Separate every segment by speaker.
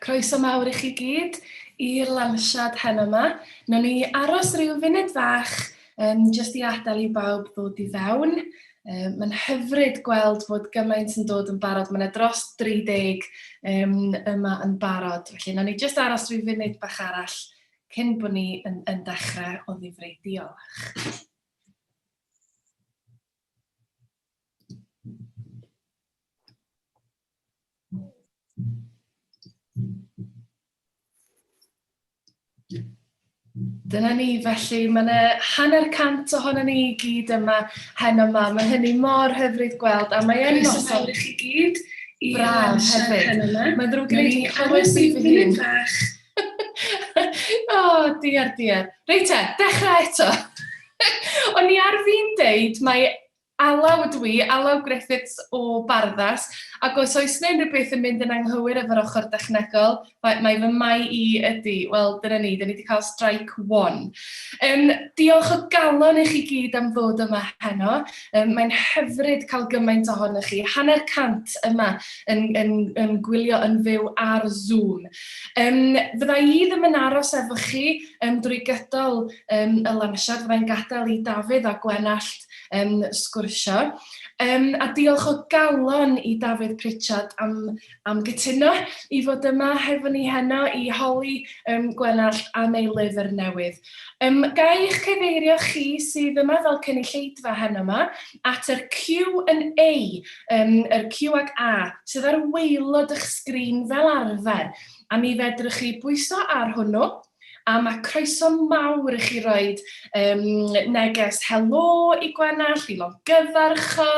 Speaker 1: Croeso mawr i chi gyd i'r lansiad heno yma. Nawn ni aros rhyw funud fach um, jyst i adael i bawb ddod i fewn. Um, Mae'n hyfryd gweld fod gymaint yn dod yn barod. Mae'n dros 30 um, yma yn barod. Felly, nawn ni jyst aros rhyw funud bach arall cyn bod ni yn, yn dechrau o ddifrei. Diolch. Dyna ni, felly mae yna hanner cant ohono ni i gyd yma hen yma. Mae hynny mor hyfryd gweld a mae e'n noson... Croeso i chi gyd i braf hefyd. Mae'n ddrwg gen i, dwi'n clywed sy'n fynd fach. o, diar, diar. Reit te, dechrau eto. O'n i ar fi'n deud mae alaw ydw i, alaw Griffiths o Barddas, ac os oes yna unrhyw beth yn mynd yn anghywir efo'r ochr dechnegol, mae, mae fy mai i ydy, wel, dyna ni, dyna ni wedi cael strike one. Um, diolch o galon i chi gyd am ddod yma heno, um, mae'n hyfryd cael gymaint ohonych chi, hanner cant yma yn, yn, yn gwylio yn fyw ar Zoom. Yym, fydda i ddim yn aros efo chi yym drwy gydol yym y lansiad, fydda i'n gadael i Dafydd a Gwenallt yym sgwrsio. Yym, a diolch o galon i Dafydd Pritchard am am gytuno i fod yma hefo ni heno i holi yym Gwenallt am ei lyfr newydd. Yym, ga i eich cyfeirio chi sydd yma fel cynulleidfa heno 'ma at yr Q and A, yym, yr Q ac A, sydd ar waelod eich sgrin fel arfer, a mi fedrwch chi bwyso ar hwnnw, a ma' croeso mawr i chi roid yym neges helo i Gwenallt, i longyfarch o,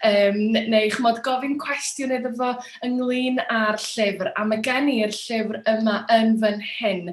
Speaker 1: yym, neu ch'mod gofyn cwestiwn iddo fo ynglyn â'r llyfr, a ma' gen i'r llyfr yma yn fan hyn.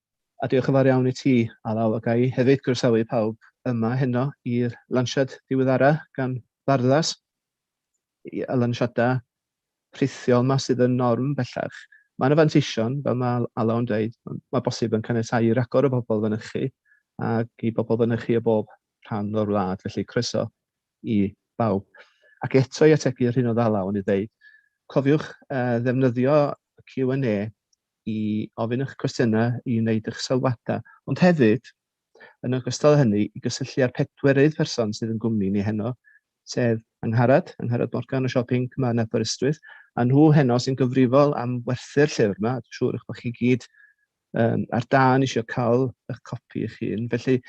Speaker 2: A diolch yn fawr iawn i ti, Alaw, a ga i hefyd groesawu pawb yma heno i'r lansiad diweddara gan Barddas, y lansiadau rhithiol yma sydd yn norm bellach. Mae yna fanteision, fel mae Alaw yn dweud, mae bosib yn caniatáu i ragor o bobl fynychu ac i bobl fynychu o bob rhan o'r wlad, felly croeso i bawb. Ac eto i ategu yr hyn oedd Alaw yn ei ddeud, cofiwch uh, ddefnyddio Q&A i ofyn eich cwestiynau, i wneud eich sylwadau, ond hefyd, yn ogystal â hynny, i gysylltu â'r pedwerydd person sydd yn gwmni ni heno, sef Angharad, Angharad Morgan o Siop Inc yma yn Aberystwyth, a nhw heno sy'n gyfrifol am werthu'r llyfr yma, dwi'n siŵr eich bod chi gyd um, ar dan eisiau cael eich copi eich hun. Felly,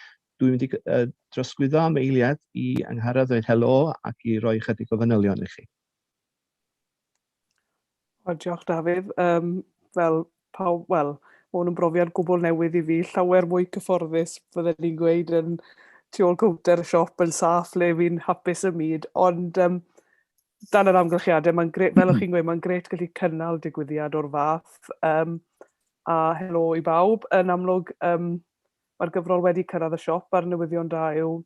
Speaker 2: dwi'n mynd i uh, drosglwyddo am eiliad i Angharad ddweud helo ac i roi chydig o fanylion i chi.
Speaker 3: O, diolch Dafydd. Um, fel pawb, wel, mae hwn yn brofiad gwbl newydd i fi, llawer mwy cyfforddus, fydden ni'n gweud, yn tu ôl cownter y siop yn saff le fi'n hapus y myd, ond um, dan yr amgylchiadau, mae'n gret, fel o'ch chi'n gweud, mae'n gret gallu cynnal digwyddiad o'r fath, um, a helo i bawb, yn amlwg, um, mae'r gyfrol wedi cyrraedd y siop a'r newyddion da yw,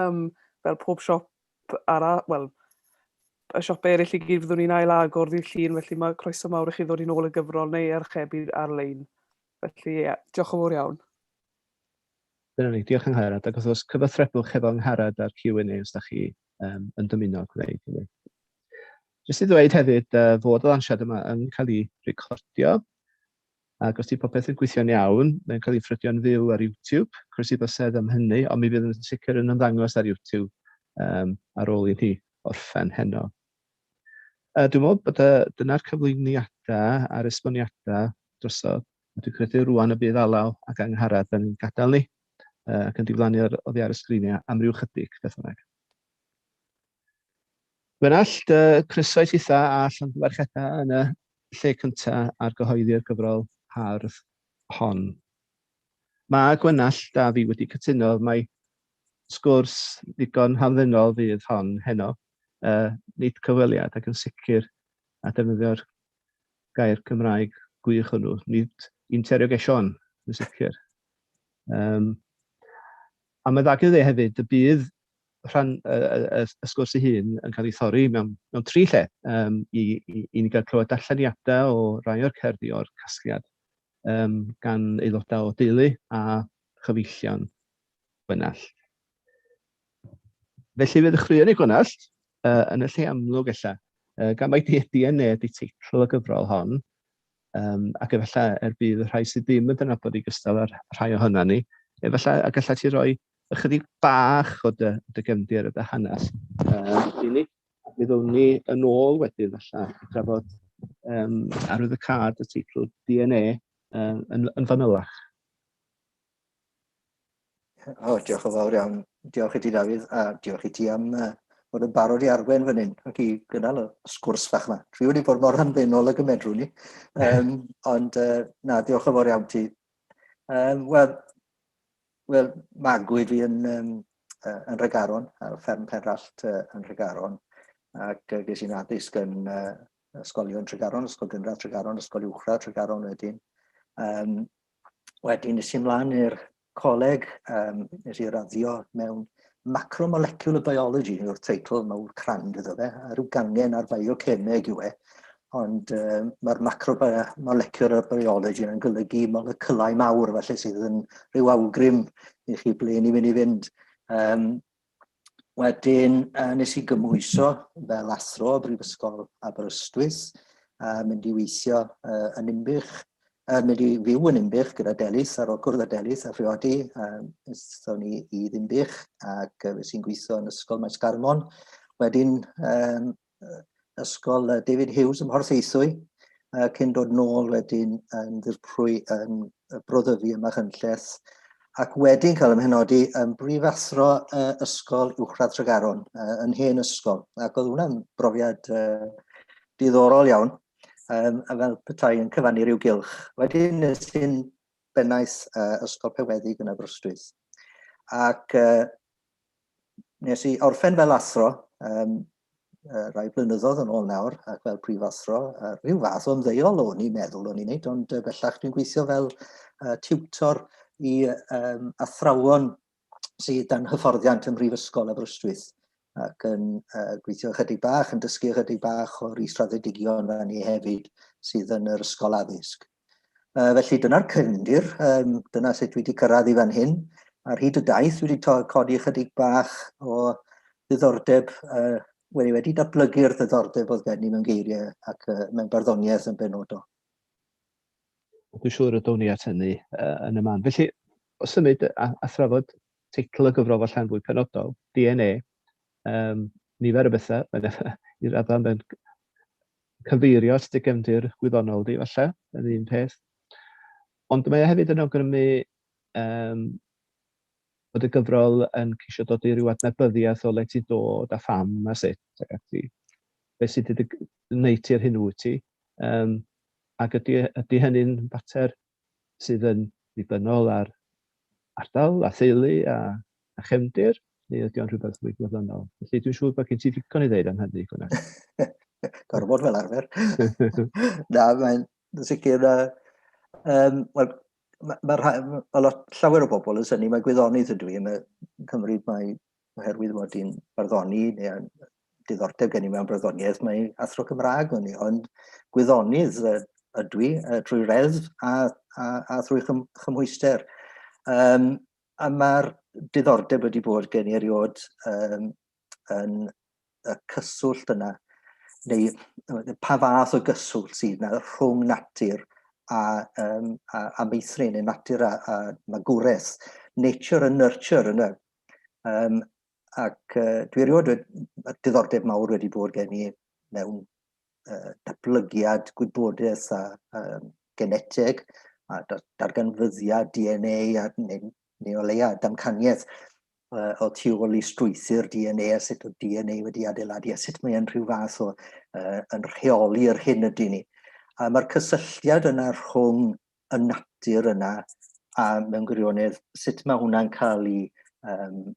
Speaker 3: um, fel pob siop ara-, wel, y siopau eraill i gyd fyddwn ni'n ail-agor ddydd Llun, felly mae croeso mawr i chi ddod i'n ôl y gyfrol neu archebu ar-lein. Felly, ie, diolch yn fawr iawn.
Speaker 2: Dyna ni, diolch Angharad, ac wrth gwrs cyfathrebwch hefo Angharad ar Q&A os da chi um, yn dymuno gwneud hynny. Jyst i ddweud hefyd uh, fod y lansiad yma yn cael ei recordio, ac os 'di popeth yn gweithio'n iawn, mae'n cael ei ffrydio'n fyw ar YouTube. Croeso iddo sedd am hynny, ond mi fydd yn sicr yn ymddangos ar YouTube um, ar ôl i ni orffen heno. Uh, dwi'n meddwl bod dyna'r cyflwyniadau a'r esboniadau drosodd. Dwi'n credu rwan y bydd alaw ac angharad yn gadael ni ac yn diflannu oddi ar y sgriniau am ryw chydig, beth bynnag. Gwenallt, dy croeso i chitha a Llanfairchetta yn y lle cynta ar gyhoeddi'r gyfrol hardd hon. Mae Gwenallt a fi wedi cytuno mai sgwrs ddigon hamddenol fydd hon heno, uh, nid cyfweliad ac yn sicr a defnyddio'r gair Cymraeg gwych hwnnw, nid interrogation yn sicr. Um, a mae dda gyda hefyd, y bydd Mae rhan y y y y sgwrs ei hun yn cael ei thorri mewn mewn tri lle yym i i i ni gael clywed darlleniadau o rai o'r cerddi o'r casgliad yym gan aelodau o deulu a chyfeillion Gwenallt. Felly fe ddechreuwn i Gwenallt yy yn y lle amlwg ella yy gan mai Dueddi a Neb yw teitl y gyfrol hon yym ac efallai er budd y rhai sydd ddim yn dy nabod di gystal â'r rhai ohonan ni efallai y gallet ti roi Ychydig bach o dy, dy gefndir a dy hanes uh, i ni. Mi ddwn ni yn ôl wedyn allan i drafod um, arwydd y card y teitl DNA um, yn, yn fanylach.
Speaker 4: O, diolch o fawr iawn. Diolch i ti, Dafydd, a diolch i ti am uh, bod yn barod i arwen fan hyn ac i gynnal y sgwrs fach yma. Dwi wedi bod mor anfenol ag y medrw ni, um, ond uh, na, diolch yn fawr iawn ti. Um, Wel, Wel, magwyd fi yn, um, yn Regaron, ar fferm Penrallt uh, yn Regaron, ac uh, ges i'n addysg yn uh, ysgolion Tregaron, Ysgol Gynradd Tregaron, Ysgol Uwchradd Tregaron wedyn. Um, wedyn nes i mlaen i'r coleg, um, nes i raddio mewn Macromolecular Biology yw'r teitl mawr crand iddo fe, a rhyw gangen ar biocemeg yw e, ond uh, mae'r macromolecular biology yn golygu moleculau mawr, felly sydd yn rhyw awgrym i chi ble ni mynd i fynd. Um, wedyn, uh, nes i gymwyso fel athro o Brifysgol Aberystwyth, a mynd i weithio uh, yn Inbych, Yn mynd i fyw yn Inbych gyda Delis ar ôl cwrdd â Delis a phriodi, um, ystho ni i Ddimbych ac uh, sy'n gweithio yn Ysgol Maes Garmon. Wedyn um, Ysgol uh, David Hughes ym Mhorth Eithwy, uh, cyn dod nôl wedyn yn ddirprwy yn uh, broddyfu yma chynlleth, ac wedyn cael ymhenodi yn brifathro uh, Ysgol Uwchradd Tregaron, uh, yn hen ysgol, ac oedd hwnna'n brofiad uh, diddorol iawn. um, a fel petai yn cyfannu rhyw gylch. Wedyn nes hyn bennais uh, ysgol pewedig yn Aberystwyth. Ac uh, nes i orffen fel athro, um, uh, rai blynyddoedd yn ôl nawr, ac fel prif athro, uh, rhyw fath o'n ddeiol o'n i'n meddwl o'n i'n neud, ond uh, bellach dwi'n gweithio fel uh, tiwtor i um, athrawon sydd dan hyfforddiant ym Mhrifysgol Aberystwyth ac yn uh, gweithio ychydig bach, yn dysgu ychydig bach o'r israddedigion fan ni hefyd sydd yn yr ysgol addysg. Uh, felly dyna'r cyndir, um, dyna sut dwi wedi cyrraedd i fan hyn. Ar hyd y daith dwi wedi codi ychydig bach o ddiddordeb, uh, wedi, wedi datblygu'r ddiddordeb oedd gen i mewn geiriau ac uh, mewn barddoniaeth yn benodol.
Speaker 2: Dwi'n siŵr y down ni at hynny yy yn y man. Felly, o symud a, a thrafod teitl y gyfrol falle yn fwy penodol, DNA, um, nifer o bethau, i raddau mae'n cyfeirio at dy gefndir gwyddonol di falle, yn un peth. Ond mae e hefyd yn awgrymu um, bod y gyfrol yn ceisio dod i ryw adnabyddiaeth o le ti'n dod a pham a sut ac ati. Be sydd wedi gwneud ti ar hyn wyt ti. Um, Ac ydy, ydy hynny'n fater sydd yn ddibynnol ar ardal a theulu a, a chefndir, neu ydy o'n rhywbeth mwy gwyddonol? Felly dwi'n siŵr bod gen ti ddigon i ddeud am hynny, Gwna. Gorfod fel
Speaker 4: arfer. Na, mae'n sicr... Uh, um, well, mae ma, ma, ma lot, llawer o bobl yn syni, mae gwyddonydd ydw i yn y Cymru, mae oherwydd fod hi'n barddoni neu diddordeb gen i mewn barddoniaeth, mae athro Cymraeg o'n i, ond gwyddonydd ydw i drwy reddf a, a, a thrwy chym, chymhwyster. Um, a mae'r diddordeb wedi bod gen i eriod um, yn y cyswllt yna, neu pa fath o gyswllt sydd yna rhwng natur a, um, a, a meithrin, neu natur a, a magwraeth, nature and nurture yn y Um, ac uh, dwi erioed wedi diddordeb mawr wedi bod gen i mewn uh, datblygiad gwybodaeth a uh, genetig a darganfyddiad DNA a neu, neu o leia damcaniaeth uh, o tu ôl i strwythyr DNA a sut o DNA wedi adeiladu a sut mae'n rhyw fath o uh, yn rheoli'r hyn ydy ni. A mae'r cysylltiad yna rhwng y natur yna a mewn gwirionedd sut mae hwnna'n cael ei um,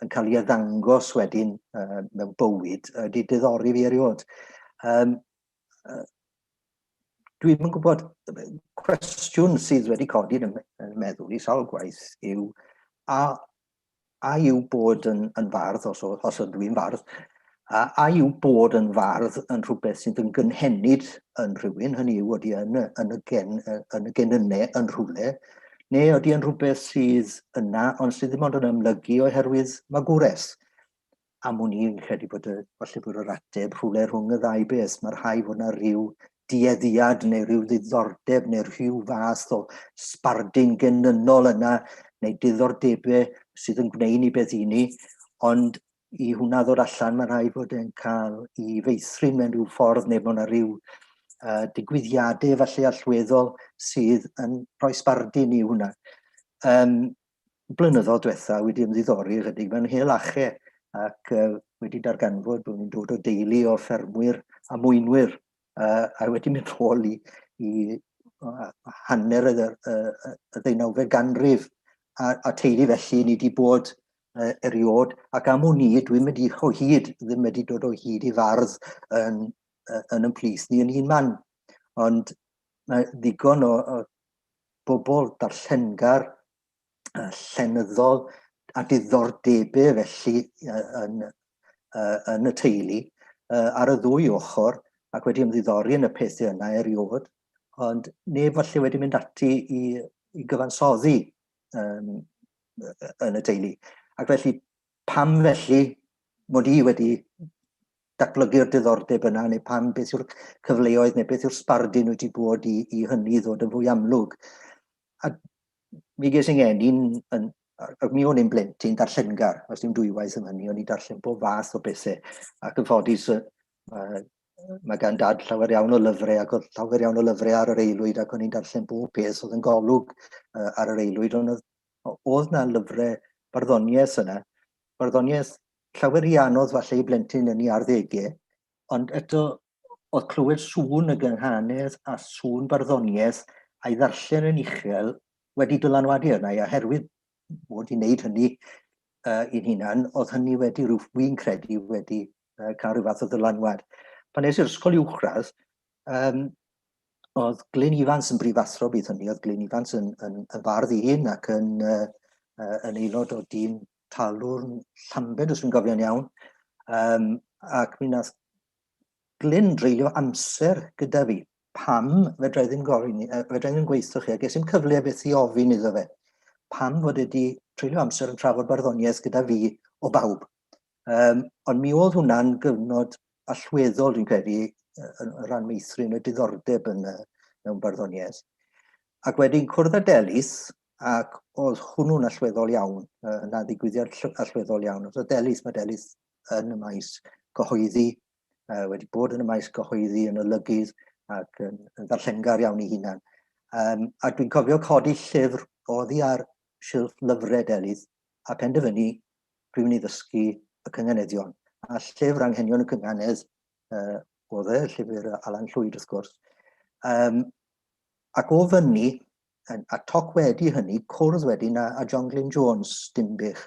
Speaker 4: yn cael ei addangos wedyn uh, mewn bywyd uh, di diddori fi erioed. Um, uh, Dwi'n yn gwybod, cwestiwn sydd wedi codi yn y meddwl i sawl gwaith yw, a a yw bod yn, yn fardd, os, os ydw i'n fardd, a, a yw bod yn fardd yn rhywbeth sydd yn gynhenid yn rhywun, hynny yw oeddi yn, yn, y gen, yn y genynnau yn rhywle, neu oeddi yn rhywbeth sydd yna ond sydd ddim ond yn ymlygu oherwydd magwres. am wn i, yn credu bod y, falle bod yr ateb rhywle rhwng y ddau beth. Mae rhai fod yna rhyw dueddiad neu rhyw ddiddordeb neu rhyw fath o sbardun genynol yna neu diddordebau sydd yn gwneud ni beth i ni, ond i hwnna ddod allan mae rhai fod yn cael i feithrin mewn rhyw ffordd neu bod yna rhyw uh, digwyddiadau falle allweddol sydd yn rhoi sbardun i hwnna. Um, blynyddoedd diwetha wedi ymddiddori ychydig mewn hel ache ac uh, wedi darganfod bod nhw'n dod o deulu o ffermwyr a mwynwyr uh, a wedi mynd rôl i, i uh, hanner y, y, y ddeunawfed ganrif a, a teulu felly ni wedi bod uh, eriod ac am wn i dwi'n mynd i o hyd ddim wedi dod o hyd i fardd yn, uh, yn ymplith ni yn un man ond mae ddigon o, o bobl darllengar, uh, llenyddol a diddordebau felly uh, yn, uh, yn y teulu uh, ar y ddwy ochr ac wedi ymddiddori yn y pethau yna erioed, ond neb falle wedi mynd ati i, i gyfansoddi um, yn y teulu. Ac felly Pam felly mod i wedi datblygu'r diddordeb yna neu pam beth yw'r cyfleoedd neu beth yw'r sbardun wyt ti bod i, i hynny ddod yn fwy amlwg. A mi ges i'n gen i'n, yn, ac mi o'n i'n blentyn darllengar, os dim dwywaith yn hynny, o'n i'n darllen bob fath o bethau. Ac yn ffodus, mae, mae gan dad llawer iawn o lyfrau ac oedd llawer iawn o lyfrau ar yr eilwyd ac o'n i'n darllen bob peth oedd yn golwg uh, ar yr eilwyd, ond oedd Oedd 'na lyfre barddoniaeth yna, barddoniaeth llawer rhy anodd falle i blentyn yn 'i arddege, ond eto oedd clywed sŵn y gynghanedd a sŵn barddoniaeth a'i ddarllen yn uchel wedi dylanwadu arna i, a herwydd mod i'n neud hynny uh, i'n hunan, oedd hynny wedi rhyw, fi'n credu, wedi uh, cael rhyw fath o ddylanwad. Pan nes i'r ysgol uwchradd, um, oedd Glyn Ifans yn brifathro bydd hynny, oedd Glyn Ifans yn, yn, yn fardd i hun ac yn, uh, uh, yn aelod o dîm talwrn Llambed, os fi'n gofio'n iawn. Um, ac mi nath Glyn dreulio amser gyda fi. Pam fedra i ddim gofyn, uh, fedra i ddim gweithio chi, a ges i'n cyfle beth i ofyn iddo fe. Pam fod wedi treulio amser yn trafod barddoniaeth gyda fi o bawb. Um, ond mi oedd hwnna'n gyfnod allweddol, dwi'n credu, yn rhan meithrin y diddordeb yn, mewn barddoniaeth. Ac wedyn cwrdd â Delis, ac oedd hwnnw'n allweddol iawn, yna ddigwyddiad allweddol iawn. Oedd Delis, mae Delis yn y maes gyhoeddi, uh, wedi bod yn y maes gyhoeddi yn y lygydd ac yn, yn ddarllengar iawn ei hunan. Um, a dwi'n cofio codi llyfr oddi ar silff lyfrau Delis a penderfynu pryd ni ddysgu y cynganeddion. A llyfr anghenion y cynganedd uh, oedd e, llyfr Alan Llwyd wrth gwrs. Um, ac o fyny, a toc wedi hynny, cwrdd wedyn a, a John Glyn Jones, Dimbych.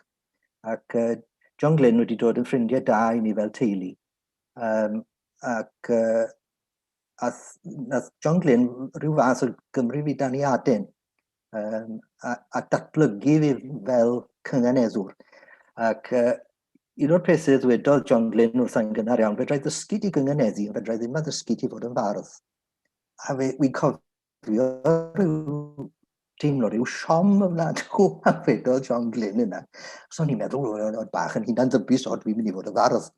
Speaker 4: Ac uh, John Glyn wedi dod yn ffrindiau da i ni fel teulu. Um, ac uh, a nath John Glyn rhyw fath o Gymru fi dan i aden. um, a, a datblygu fi fel cynganeddwr. Ac uh, un o'r pethau ddwedodd John Glyn wrth yn gynnar iawn, fedrai ddysgu di gynganeddu, ond fedrai ddim a ddysgu di fod yn fardd. A fe, fi'n cofio rhyw teimlo rhyw siom y wlad o a fedodd John Glyn yna. So ni'n meddwl, oedd bach yn hunan ddybus, o dwi'n mynd i fod yn fardd.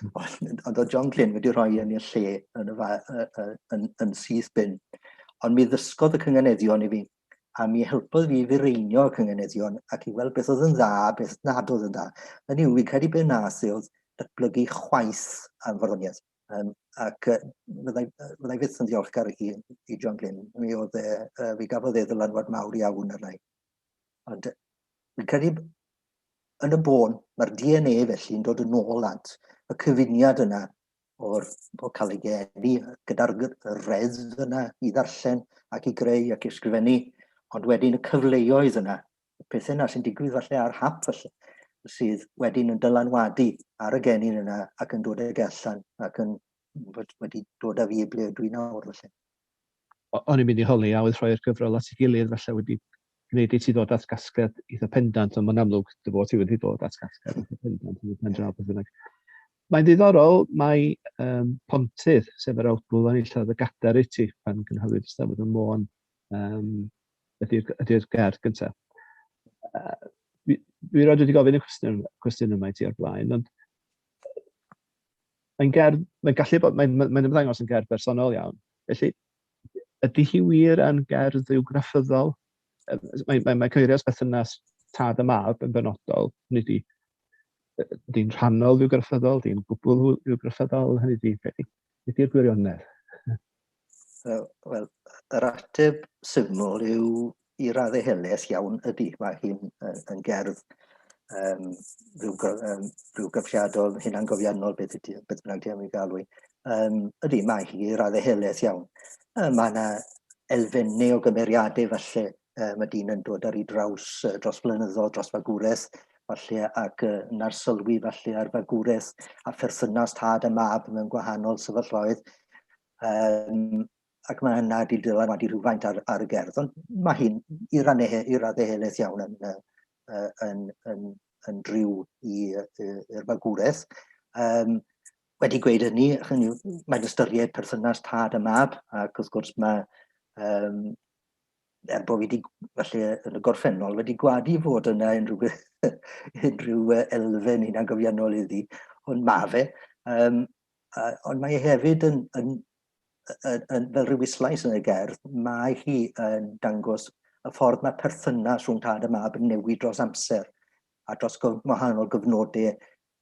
Speaker 4: Ond oedd John Glyn wedi rhoi yn i'r lle yn, y fa, yn, yn, yn, yn syth bin. Ond mi ddysgodd y cynganeddion i fi, a mi helpodd fi fireinio y cynganeddion ac i weld beth oedd yn dda, beth nad oedd yn dda. Yn yw, fi'n credu beth nas e oedd datblygu chwaith am farddoniaeth. Um, ac uh, fyddai, fyddai fyth yn ddiolchgar i, i John Glyn. Mi oedd e, uh, fi gafodd e ddylanwad mawr iawn arna i. Ond fi'n credu yn y bôn, mae'r DNA felly'n dod yn ôl at y cyfuniad yna o'r o cael ei geni gyda'r reddf yna i ddarllen ac i greu ac i ysgrifennu, ond wedyn y cyfleoedd yna, y pethau yna sy'n digwydd falle ar hap falle, sydd wedyn yn dylanwadu ar y genyn yna ac yn dod ag e allan ac yn wedi dod â fi i ble ydw i nawr falle. o'n
Speaker 2: i'n mynd i holi a oedd
Speaker 4: rhoi'r
Speaker 2: gyfrol at ei
Speaker 4: gilydd
Speaker 2: falle wedi gwneud i ti ddod at gasgliad eitha pendant, ond mae'n amlwg dy fod ti wedi dod at gasgliad eitha pendant yn y pen draw beth bynnag. Mae'n ddiddorol, mae um, Pontydd, sef yr awdl o'n illodd y gader i ti pan gynhaliwyd y stafod y Môn, um, ydy'r ydy gerdd gyntaf. Uh, fi, fi roed wedi gofyn y cwestiwn, cwestiwn yma i ti o'r blaen, ond mae'n gerdd, mae'n gallu bod, mae'n mae, mae ymddangos yn gerdd bersonol iawn. Felly, ydy hi wir yn gerdd yw graffyddol? Mae, mae, mae cyfeirio at berthynas tad y mab yn benodol, hynny di, di'n rhannol yw graffyddol, di'n gwbl yw graffyddol, hynny di, beth ydy'r gwirionedd?
Speaker 4: Uh, Wel, yr ateb syml yw i raddau heles iawn ydy. Mae hi'n yn gerdd um, rhyw, um, rhyw gyfriadol, hunangofiannol, beth ydy, beth bynnag di am ei galw. Um, ydy, mae hi i raddau heles iawn. Uh, mae yna elfennau o gymeriadau falle uh, mae dyn yn dod ar ei draws uh, dros flynyddoedd, dros fagwraeth, falle, ac uh, na'r sylwi falle ar fagwraeth a pherthynas tad a mab mewn gwahanol sefyllfaoedd. Um, ac mae yna wedi dylanwadu rhywfaint ar, ar y gerdd, ond mae hyn i rannau i raddau helaeth iawn yn, yn, yn, yn, yn driw i'r fagwraeth. Um, wedi gweud hynny, hynny mae'n ystyried perthynas tad a mab, ac wrth gwrs mae um, er bod fi wedi, falle yn y gorffennol, wedi gwadu fod yna unrhyw, unrhyw elfen hyn a'n gofiannol iddi, ond ma fe. Um, uh, ond mae e hefyd yn, yn, yn, yn, fel rhyw islais yn y gerdd, mae hi yn dangos y ffordd mae perthynas rhwng tad a mab yn newid dros amser a dros gwahanol gyfnodau,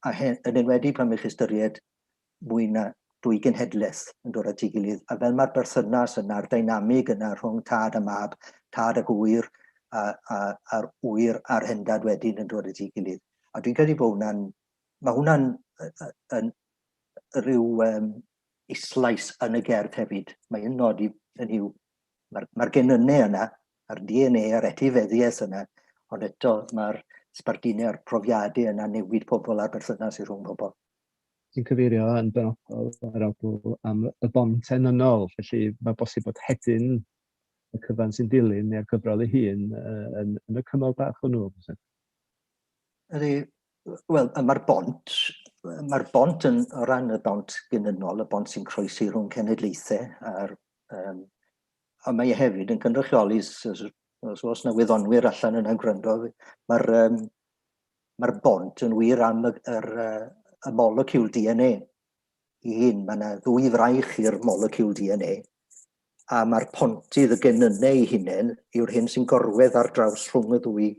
Speaker 4: a hen, yn enwedig pan ych ystyried mwy na dwy genhedlaeth yn dod at ei gilydd, a fel mae'r berthynas yna'r dynamig yna rhwng tad a mab, tad ac ŵyr, a, a, a'r ŵyr a'r hendad wedyn yn dod at ei gilydd. A dwi'n credu bod hwnna'n, mae hwnna'n yn rhyw um, islais yn y gerdd hefyd. Mae yn nodi yn hiw, mae'r ma genynnau yna, a'r DNA a'r etifeddiaeth yna, ond eto mae'r sbardune'r profiadau yna newid pobl a'r berthynas i rhwng pobl. sy'n cyfeirio
Speaker 2: yn benodol yr awdl am y bont enynol, felly mae bosib bod hedyn y cyfan sy'n dilyn neu'r gyfrol ei hun uh, yn, yn y cymal bach hwnnw. Ydy,
Speaker 4: wel, mae'r bont, mae'r bont yn o ran y bont gynynnol, y bont sy'n croesi rhwng cenedlaethau a'r um, a mae e hefyd yn cynrychioli os, os, os na wyddonwyr allan yna'n gwrando, mae'r um, Mae'r bont yn wir am y, yr, y moleciwl DNA i hun. Mae yna ddwy fraich i'r moleciwl DNA a mae'r pontydd y genynnau ei hunain yw'r hyn sy'n gorwedd ar draws rhwng y ddwy,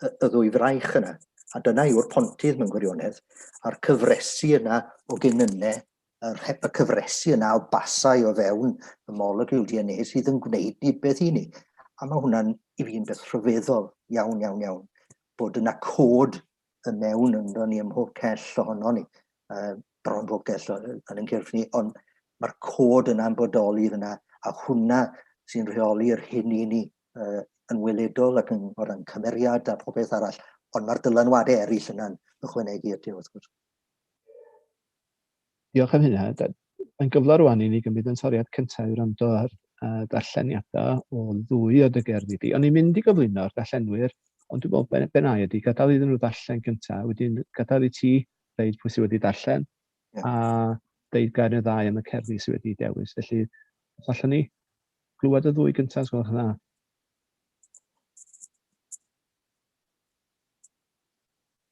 Speaker 4: y, y ddwy fraich yna. A dyna yw'r pontydd mewn gwirionedd, a'r cyfresu yna o genynnau a rhep y cyfresi yna o basau o fewn y molecule DNA sydd yn gwneud rhywbeth i ni. A mae hwnna'n, i fi, yn beth rhyfeddol iawn, iawn, iawn, bod yna cod y mewn ynddo ni ym mhob cell ohono ni, uh, bron bob cell yn yn cyrff ni, ond mae'r cod yna'n bodoli fyna, a hwnna sy'n rheoli'r hyn i ni uh, yn weledol ac yn, o ran cymeriad a phobeth arall, ond mae'r dylanwadau eraill yna'n ychwanegu at e, wrth gwrs.
Speaker 2: Diolch am hynna. Mae'n gyfle rŵan i ni gymryd ein toriad cyntaf i wrando ar ddarlleniadau o ddwy o dy gerddi di. O'n i'n mynd i gyflwyno'r darllenwyr, ond dwi'n meddwl be, be na i ydy gadael iddyn nhw ddarllen gyntaf, wedyn gadael i ti ddeud pwy sydd wedi darllen, yeah. a deud gair neu ddau am y cerddi sydd wedi dewis. Felly, os allwn ni glywed y ddwy gyntaf, os gwelwch yn dda.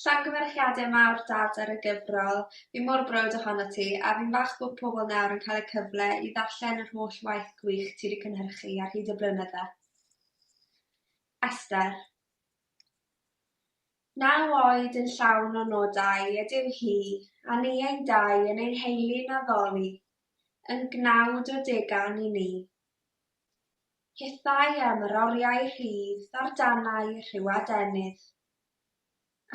Speaker 5: Llongyfarchiade mawr Dad ar y gyfrol, fi mor browd ohono ti, a fi'n falch bod pobl nawr yn cael y cyfle i ddarllen yr holl waith gwych ti 'di cynhyrchu ar hyd y blynydde. Esther. Naw oed yn llawn o nodau ydyw hi, a ni ein dau yn ei heulu'n addoli, yn gnawd o degan i ni. Hithau am yr oriau rhydd ar danau rhyw adenydd.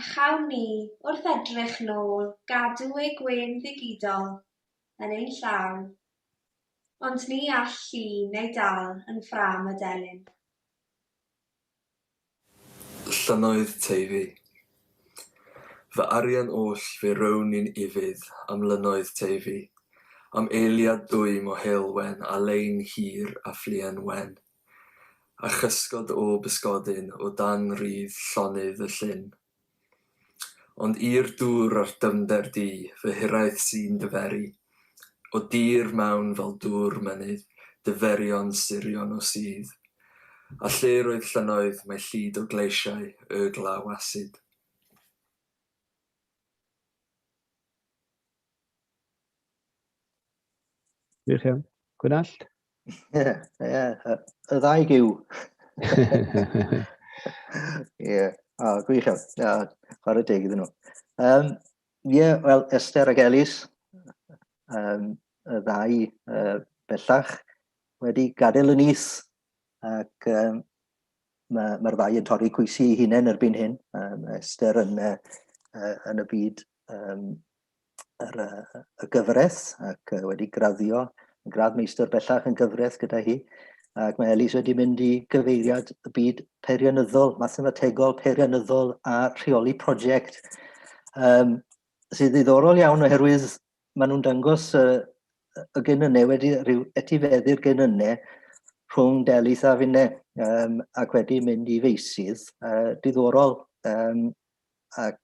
Speaker 5: A chawn ni, wrth edrych nôl, gadw ei gwên ddigidol yn ein llaw. Ond ni all llun ei dal yn ffrâm y delyn.
Speaker 6: Llynnoedd Teifi. Fy arian oll fe rown i'n ufudd am Lynnoedd Teifi, am eiliad dwym o heulwen a lein hir a phluen wen, a chysgod o bysgodyn o dan rudd llonydd y llyn. Ond i'r dŵr a'r dyfnder di, fy hiraeth sy'n dy feri, O dir mawn fel dŵr mynydd, dy ferion surion o sudd, A lle roedd llynnoedd, mae llid o gleisiau, y glaw asid.
Speaker 2: Wych iawn. Gwynallt? Ie, ie,
Speaker 4: y ddau gyw. Ie, o, gwych iawn. Ie, chwarae deg iddyn nhw. Um, ie, wel, Esther ac Elis, um, y ddau uh, bellach, wedi gadael y nis ac um, mae'r ma ddau yn torri coesi ei hunain erbyn hyn. Um, Esther yn, uh, yn y byd um, yr, uh, y gyfres ac uh, wedi graddio yn gradd meistr bellach yn gyfres gyda hi. Ac mae Elis wedi mynd i gyfeiriad y byd peirianyddol, mathemategol, peirianyddol a rheoli prosiect. Um, sydd ddiddorol iawn oherwydd maen nhw'n dangos uh, y genynnau wedi rhyw etifeddu'r genynnau rhwng Delith a Finne um, ac wedi mynd i feisydd uh, diddorol um, ac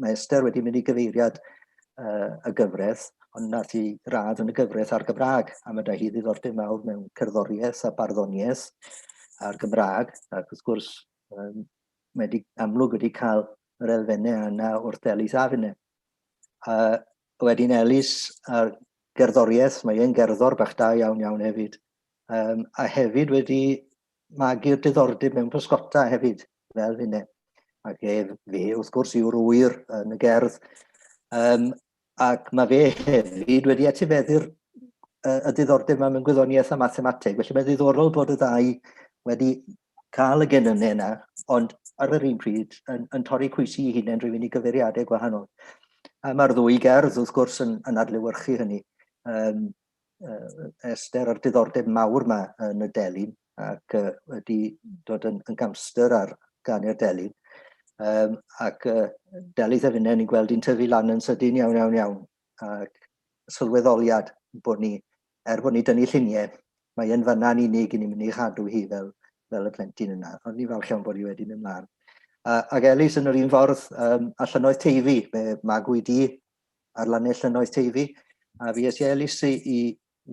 Speaker 4: mae Esther wedi mynd i gyfeiriad uh, y gyfraith, ond nath i radd yn y gyfraith ar Gymraeg, a mae da hi ddiddordeb mawr mewn cerddoriaeth a barddoniaeth ar Gymraeg, ac wrth gwrs um, mae wedi amlwg wedi cael yr elfennau yna wrth Elis Afine. A wedyn Elis a'r gerddoriaeth, mae e'n gerddor bach da iawn iawn hefyd, um, a hefyd wedi magu'r diddordeb mewn pysgota hefyd, fel hynny. Ac ef, fe, wrth gwrs, yw'r wyr yn y gerdd. Um, ac mae fe hefyd wedi etifeddu'r uh, y diddordeb yma mewn gwyddoniaeth a mathemateg. Felly mae'n ddiddorol bod y ddau wedi cael y gennym yna, ond ar yr un pryd yn, yn torri cwysi i hunain drwy fynd i gyfeiriadau gwahanol. A mae'r ddwy gerdd, wrth gwrs, yn, yn adlewyrchu hynny. Um, Esther a'r diddordeb mawr yma yn y delyn ac uh, wedi dod yn, yn gamster ar ganu'r delyn. Um, ac uh, delith a finne, ni'n gweld i'n tyfu lan yn sydyn iawn, iawn, iawn. Ac sylweddoliad bod ni, er bod ni dynnu lluniau, mae yn fanna'n unig i ni'n mynd i chadw hi fel, fel y plentyn yna. Ond ni'n falch iawn bod hi wedi mynd mlaen. Uh, ac Elis yn yr un ffordd, um, allan oedd teifi, mae magwyd i ar lannell lynnoedd teifi, a fi es i elis i, i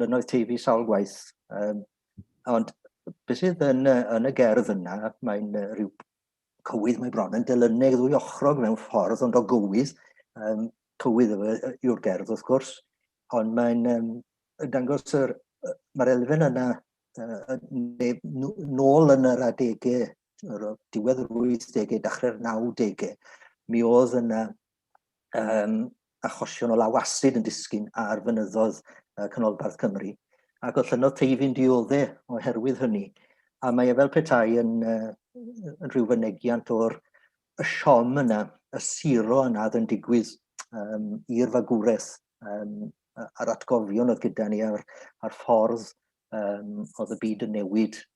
Speaker 4: lynnoedd teifi sawl gwaith. Um, ond beth sydd yn, yn y gerdd yna, mae'n uh, rhyw cywydd mae bron yn dylyneg ddwy ochrog mewn ffordd, ond o gywydd, um, cywydd yw'r gerdd wrth gwrs, ond mae'n um, dangos yr, mae'r elfen yna uh, nôl yn yr adegau diwedd yr 80au, dachrau'r 90au, mi oedd yna um, achosion o law asid yn disgyn ar fynyddodd uh, Canolbarth Cymru, ac o llynodd teifyn diodde oherwydd hynny. A mae e fel petai yn, uh, yn rhyw fynegiant o'r y siom yna, y siro yna oedd yn digwydd um, i'r fagwraeth um, a'r atgofion oedd gyda ni a'r, ar ffordd um, oedd y byd yn newid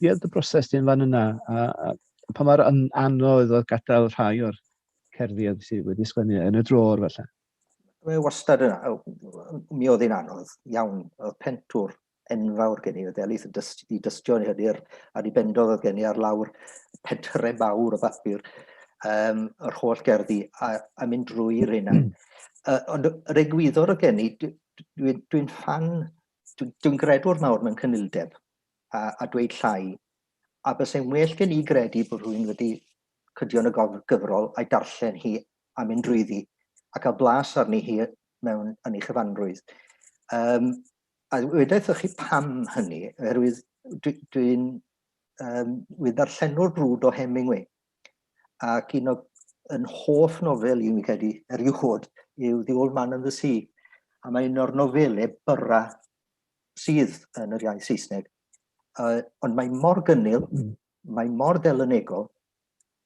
Speaker 2: Ie, dy broses di'n fan yna, a, a pa mor anodd oedd gadael rhai o'r cerddi oedd sydd wedi sgwennu yn y drôr felly? Mae wastad
Speaker 4: yna, mi oedd hi'n anodd iawn, oedd pentwr enfawr gen i, oedd elith i dystio yn hyder, a di bendodd oedd gen i ar lawr pentre mawr o bapur, um, yr holl gerddi, a, a mynd drwy'r hynna. uh, hmm. ond yr egwyddor oedd gen i, dwi'n dwi, dwi fan dwi'n dwi gredwr mawr mewn cynildeb a, a dweud llai, a bysau'n well gen i gredu bod rhywun wedi cydion y gyfrol a'i darllen hi a mynd drwyddi a cael blas arni hi mewn yn ei chyfanrwydd. Um, a wedaeth chi pam hynny, oherwydd dwi'n dwi, dwi um, ddarllenwr brwd o Hemingway, Ac un o yn hoff nofel i, fi'n credu, erioed, yw The Old Man and the Sea. A mae un o'r nofelau byrra sydd yn yr iaith Saesneg. Uh, ond mae mor gynnil, mm. mae mor delynegol,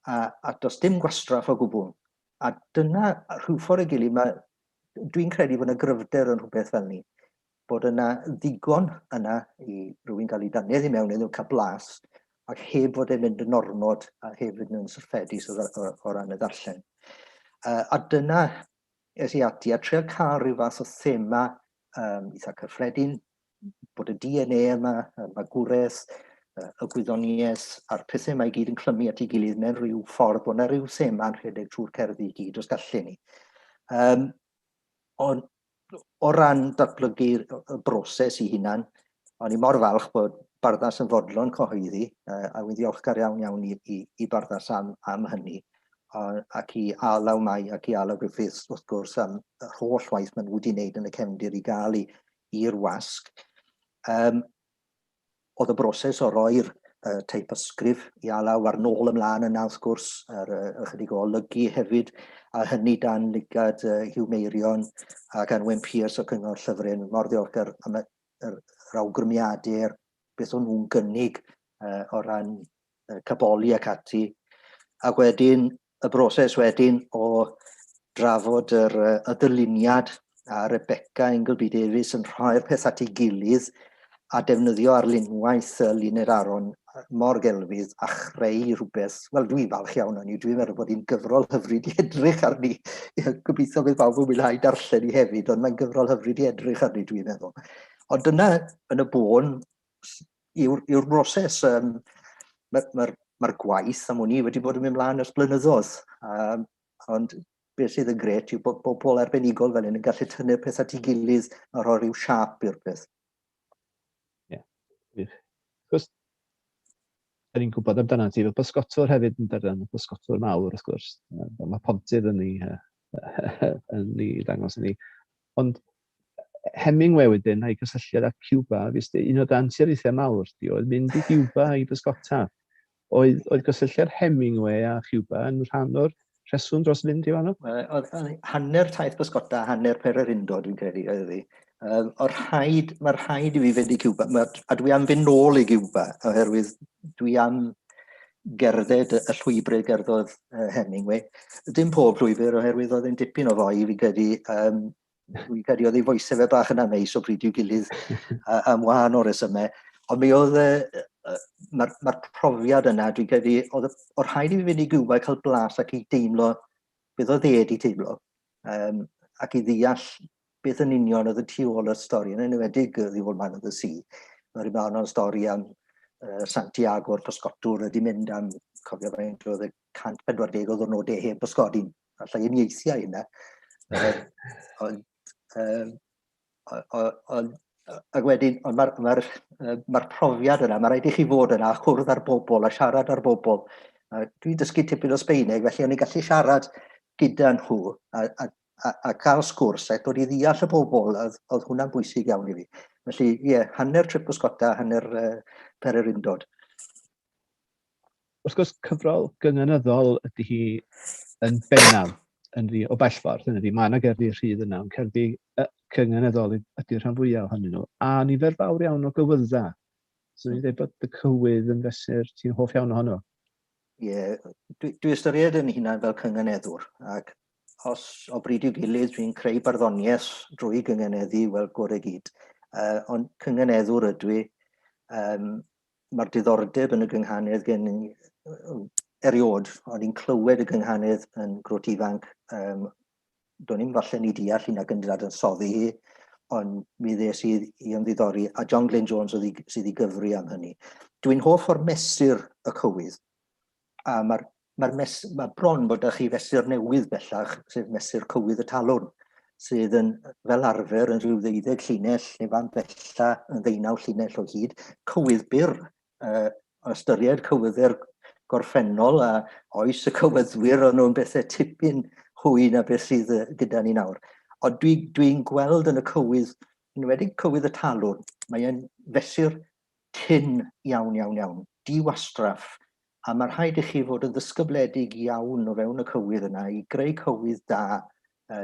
Speaker 4: a, a does dim gwastraff o gwbl. A dyna rhyw ffordd y gilydd, dwi'n credu bod yna gryfder yn rhywbeth fel ni. bod yna ddigon yna i rywun gael ei dannedd i mewn iddo, cael blas, ac heb fod e'n mynd yn ormod a hefyd yn syrffedus o, o, o ran y ddarllen. Uh, a dyna es i ati a treol cael rhyw fath o thema um, eitha cyffredin, bod y DNA yma, y magwraeth, y gwyddoniaeth a'r pethau mae i gyd yn clymu at ei gilydd mewn rhyw ffordd bod yna rhyw thema yn rhedeg trwy'r cerddi i gyd os gallu ni. Um, ond o ran datblygu'r broses i hunan, o'n i mor falch bod Barddas yn fodlon cyhoeddi, a wy'n ddiolchgar iawn iawn i, i, i Barddas am, am hynny, ac i Alaw Mai ac i Alaw Griffiths wrth gwrs am yr holl waith maen nhw wedi wneud yn y cefndir i gael i'r wasg. Um, Oedd y broses o roi'r teipysgrif i Alaw a'r nôl ymlaen yna wrth gwrs, a'r ychydig o olygu hefyd, a hynny dan lygad Hugh Meirion ac Anwen Pearce o Cyngor Llyfryn, mor ddiolchgar am yr awgrymiadau a'r beth o'n nhw'n gynnig o ran caboli ac ati. Ac wedyn y broses wedyn o drafod yr, y dyluniad a Rebecca Ingleby Davies yn rhoi'r peth at ei gilydd a defnyddio arlunwaith y Luned Aron mor gelfydd a chreu rhywbeth, wel dwi'n falch iawn o'n i, dwi'n meddwl bod hi'n gyfrol hyfryd i edrych arni. Gobeithio bydd bawb yn mwynhau darllen i hefyd, ond mae'n gyfrol hyfryd i edrych arni dwi'n meddwl. Ond dyna yn y bôn yw'r yw broses. Um, Mae'r ma, ma, gwaith am hwn i wedi bod yn mynd mlaen ers blynyddoedd, um, ond beth sydd yn gret yw bod bobl arbenigol fel hyn yn gallu tynnu'r peth at ei gilydd a rhoi rhyw siap i'r peth. Ie,
Speaker 2: yeah. Cos, da ni'n gwybod amdana ti fel bysgotwr hefyd yn darllen, bysgotwr mawr wrth gwrs. Mae pontydd yn ni, yn ni dangos yn ni. Ond Hemingway wedyn a'i gysylltiad â Cuba, fis un o dan siarithiau mawr di oedd mynd i Cuba i bysgota. Oedd, oedd gysylltiad Hemingway a Cuba yn rhan o'r rheswm dros fynd i fanno? Oedd
Speaker 4: hanner taith bysgota, hanner pererindo dwi'n credu oedd fi. Um, o'r rhaid, mae'r rhaid i fi fynd i Cuba, ma, a dwi am fynd nôl i Cuba, oherwydd dwi am gerdded y llwybrau gerddodd uh, Hemingway. Dim pob llwybr, oherwydd oedd yn dipyn o fwy i fi credu um, Fi'n credu oedd ei foes efe bach yn aneis o bryd i'w gilydd am wahan o resymau. Ond mi oedd, uh, mae'r ma profiad yna, dwi'n credu, oedd o'r rhaid i fi fynd i gywa cael blas ac i deimlo beth oedd e wedi teimlo, um, ac i ddeall beth yn union oedd y tu ôl y stori, yn enwedig y ddiwol man oedd y si. Mae'r un o'n stori am uh, Santiago o'r pysgotwr wedi mynd am, cofio faint oedd y 140 o ddwrnodau heb bysgodi'n allai uniaethiau hynna. ond, um, ond ac wedyn, ond mae'r ma ma, ma profiad yna, mae rhaid i chi fod yna a chwrdd â'r bobl a siarad â'r bobl. Dwi'n dysgu tipyn o Sbeineg, felly o'n i'n gallu siarad gyda nhw a, a, a, a cael sgwrs a dod i ddeall y bobl, oedd, oedd hwnna'n bwysig iawn i fi. Felly, ie, yeah, hanner trip o Sgota, hanner uh, pererindod.
Speaker 2: wrth gwrs, cyfrol gynynyddol ydy hi yn bennaf, yn ddi- o bell ffordd, hynny ydi, mae 'na gerddi rhydd yna, ond cerddi yy cynynyddol y- ydy'r rhan fwya' ohonyn nhw, a nifer fawr iawn o gywydda'. So ni'n dweud bod y cywydd yn fesur ti'n hoff iawn ohono. Ie,
Speaker 4: dwi dwi ystyried yn hunan fel cynganeddwr, ac os o bryd i'w gilydd dwi'n creu barddoniaeth drwy gynganeddu, wel, gore gyd. Uh, ond cynganeddwr ydw i, um, mae'r diddordeb yn y gynghanedd gen i eriod, o'n i'n clywed y gynghanedd yn grwt ifanc, um, do'n i'n falle ni deall hyn ac yn dad yn soddi hi, ond mi ddes i i ymddiddori, a John Glyn Jones sydd i gyfri am hynny. Dwi'n hoff o'r mesur y cywydd, A mae'r ma mes, ma bron bod â chi fesur newydd bellach, sef mesur cywydd y talwrn, sydd yn fel arfer yn rhyw ddeuddeg llinell neu fan bella yn ddeunaw llinell o hyd, cywydd byr, uh, ystyried cywyddu'r gorffennol a oes y cywyddwyr o'n nhw'n bethau tipyn hwy na beth sydd gyda ni nawr. Ond dwi'n dwi, dwi gweld yn y cywydd, yn wedi cywydd y talwrn, mae'n fesur Tynn iawn, iawn, iawn. Diwastraff. A mae rhaid i chi fod yn ddysgybledig iawn o fewn y cywydd yna i greu cywydd da,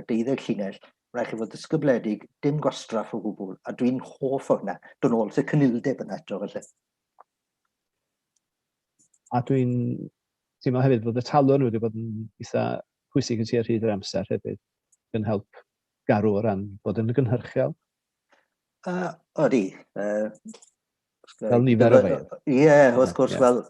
Speaker 4: deuddeg llinell, mae rhaid i chi fod ddysgybledig, dim gwastraff o gwbl, a dwi'n hoff o hynna. Dod nôl at y cynildeb yna eto falle.
Speaker 2: A dwi'n teimlo hefyd bod y talwrn wedi bod yn eitha pwysig yn sir hyd yr amser hefyd, yn help garw o ran bod yn gynhyrchiol.
Speaker 4: Uh, odi. Uh,
Speaker 2: fel nifer o fe. Ie, yeah, wrth gwrs, yeah.
Speaker 4: wel,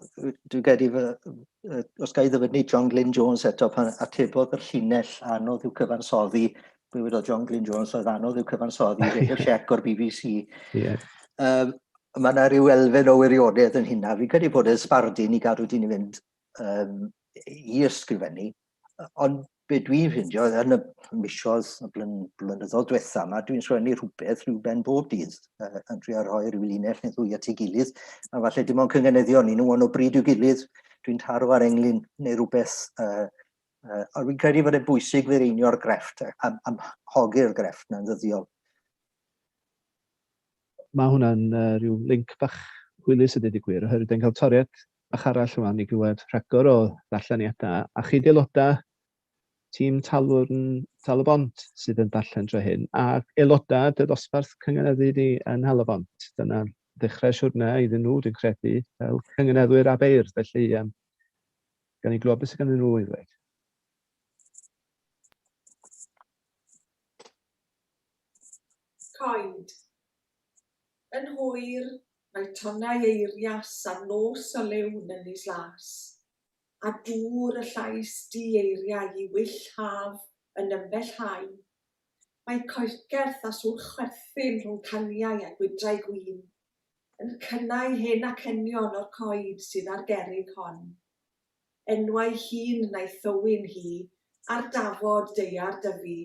Speaker 4: dwi'n gedi, uh, os gael ddyfynu John Glyn Jones eto pan atebodd yr llinell anodd i'w cyfansoddi, dwi'n wedi John Glyn Jones oedd anodd i'w cyfansoddi, rhaid y siec o'r BBC. Yeah. Um, mae yna rhyw elfen o wirionedd yn hynna. Fi'n credu bod e'n sbardun i gadw dyn i fynd um, i ysgrifennu, Ond be dwi'n ffindio yn y misoedd y blyn, blynyddoedd diwetha yma, dwi'n sgwennu rhywbeth rhyw ben bob dydd uh, yn trio rhoi rhyw linell neu ddwy at ei gilydd, a falle dim ond cyngeneddion ni nhw ond o bryd i'w gilydd, dwi'n taro ar englyn neu rhywbeth, uh, uh, ond fi'n credu fod e'n bwysig fe reinio'r grefft, am, am hogi'r grefft na'n ddyddiol.
Speaker 2: Mae hwnna'n rhyw linc bach hwylus a deud y gwir, oherwydd dan ni'n cael toriad bach arall rwan i glywed rhagor o ddarlleniadau. A chi 'di aelodau tîm Talwrn Tal-y-bont sydd yn darllen dro hyn, a aelodau dy ddosbarth cynganeddu di yn Nhal-y-bont. Dyna ddechrau siwrne iddyn nhw, dwi'n credu, fel cynganeddwyr a beirdd. Felly, um, gan i glywed beth sydd ganddyn nhw i ddweud.
Speaker 7: Coed. Yn hwyr, mae tonnau eirias ar nos o liw Nynys Las, a dŵr y llais du eiriau i wyll haf yn ymbellhau. Mae coelcerth a sŵr chwerthin rhwng caniau a gwydrau gwin yn cynnau hen acenion o'r coed sydd ar gerrig hon. Enwau hŷn na'i thywyn hi ar dafod daear Dyfi.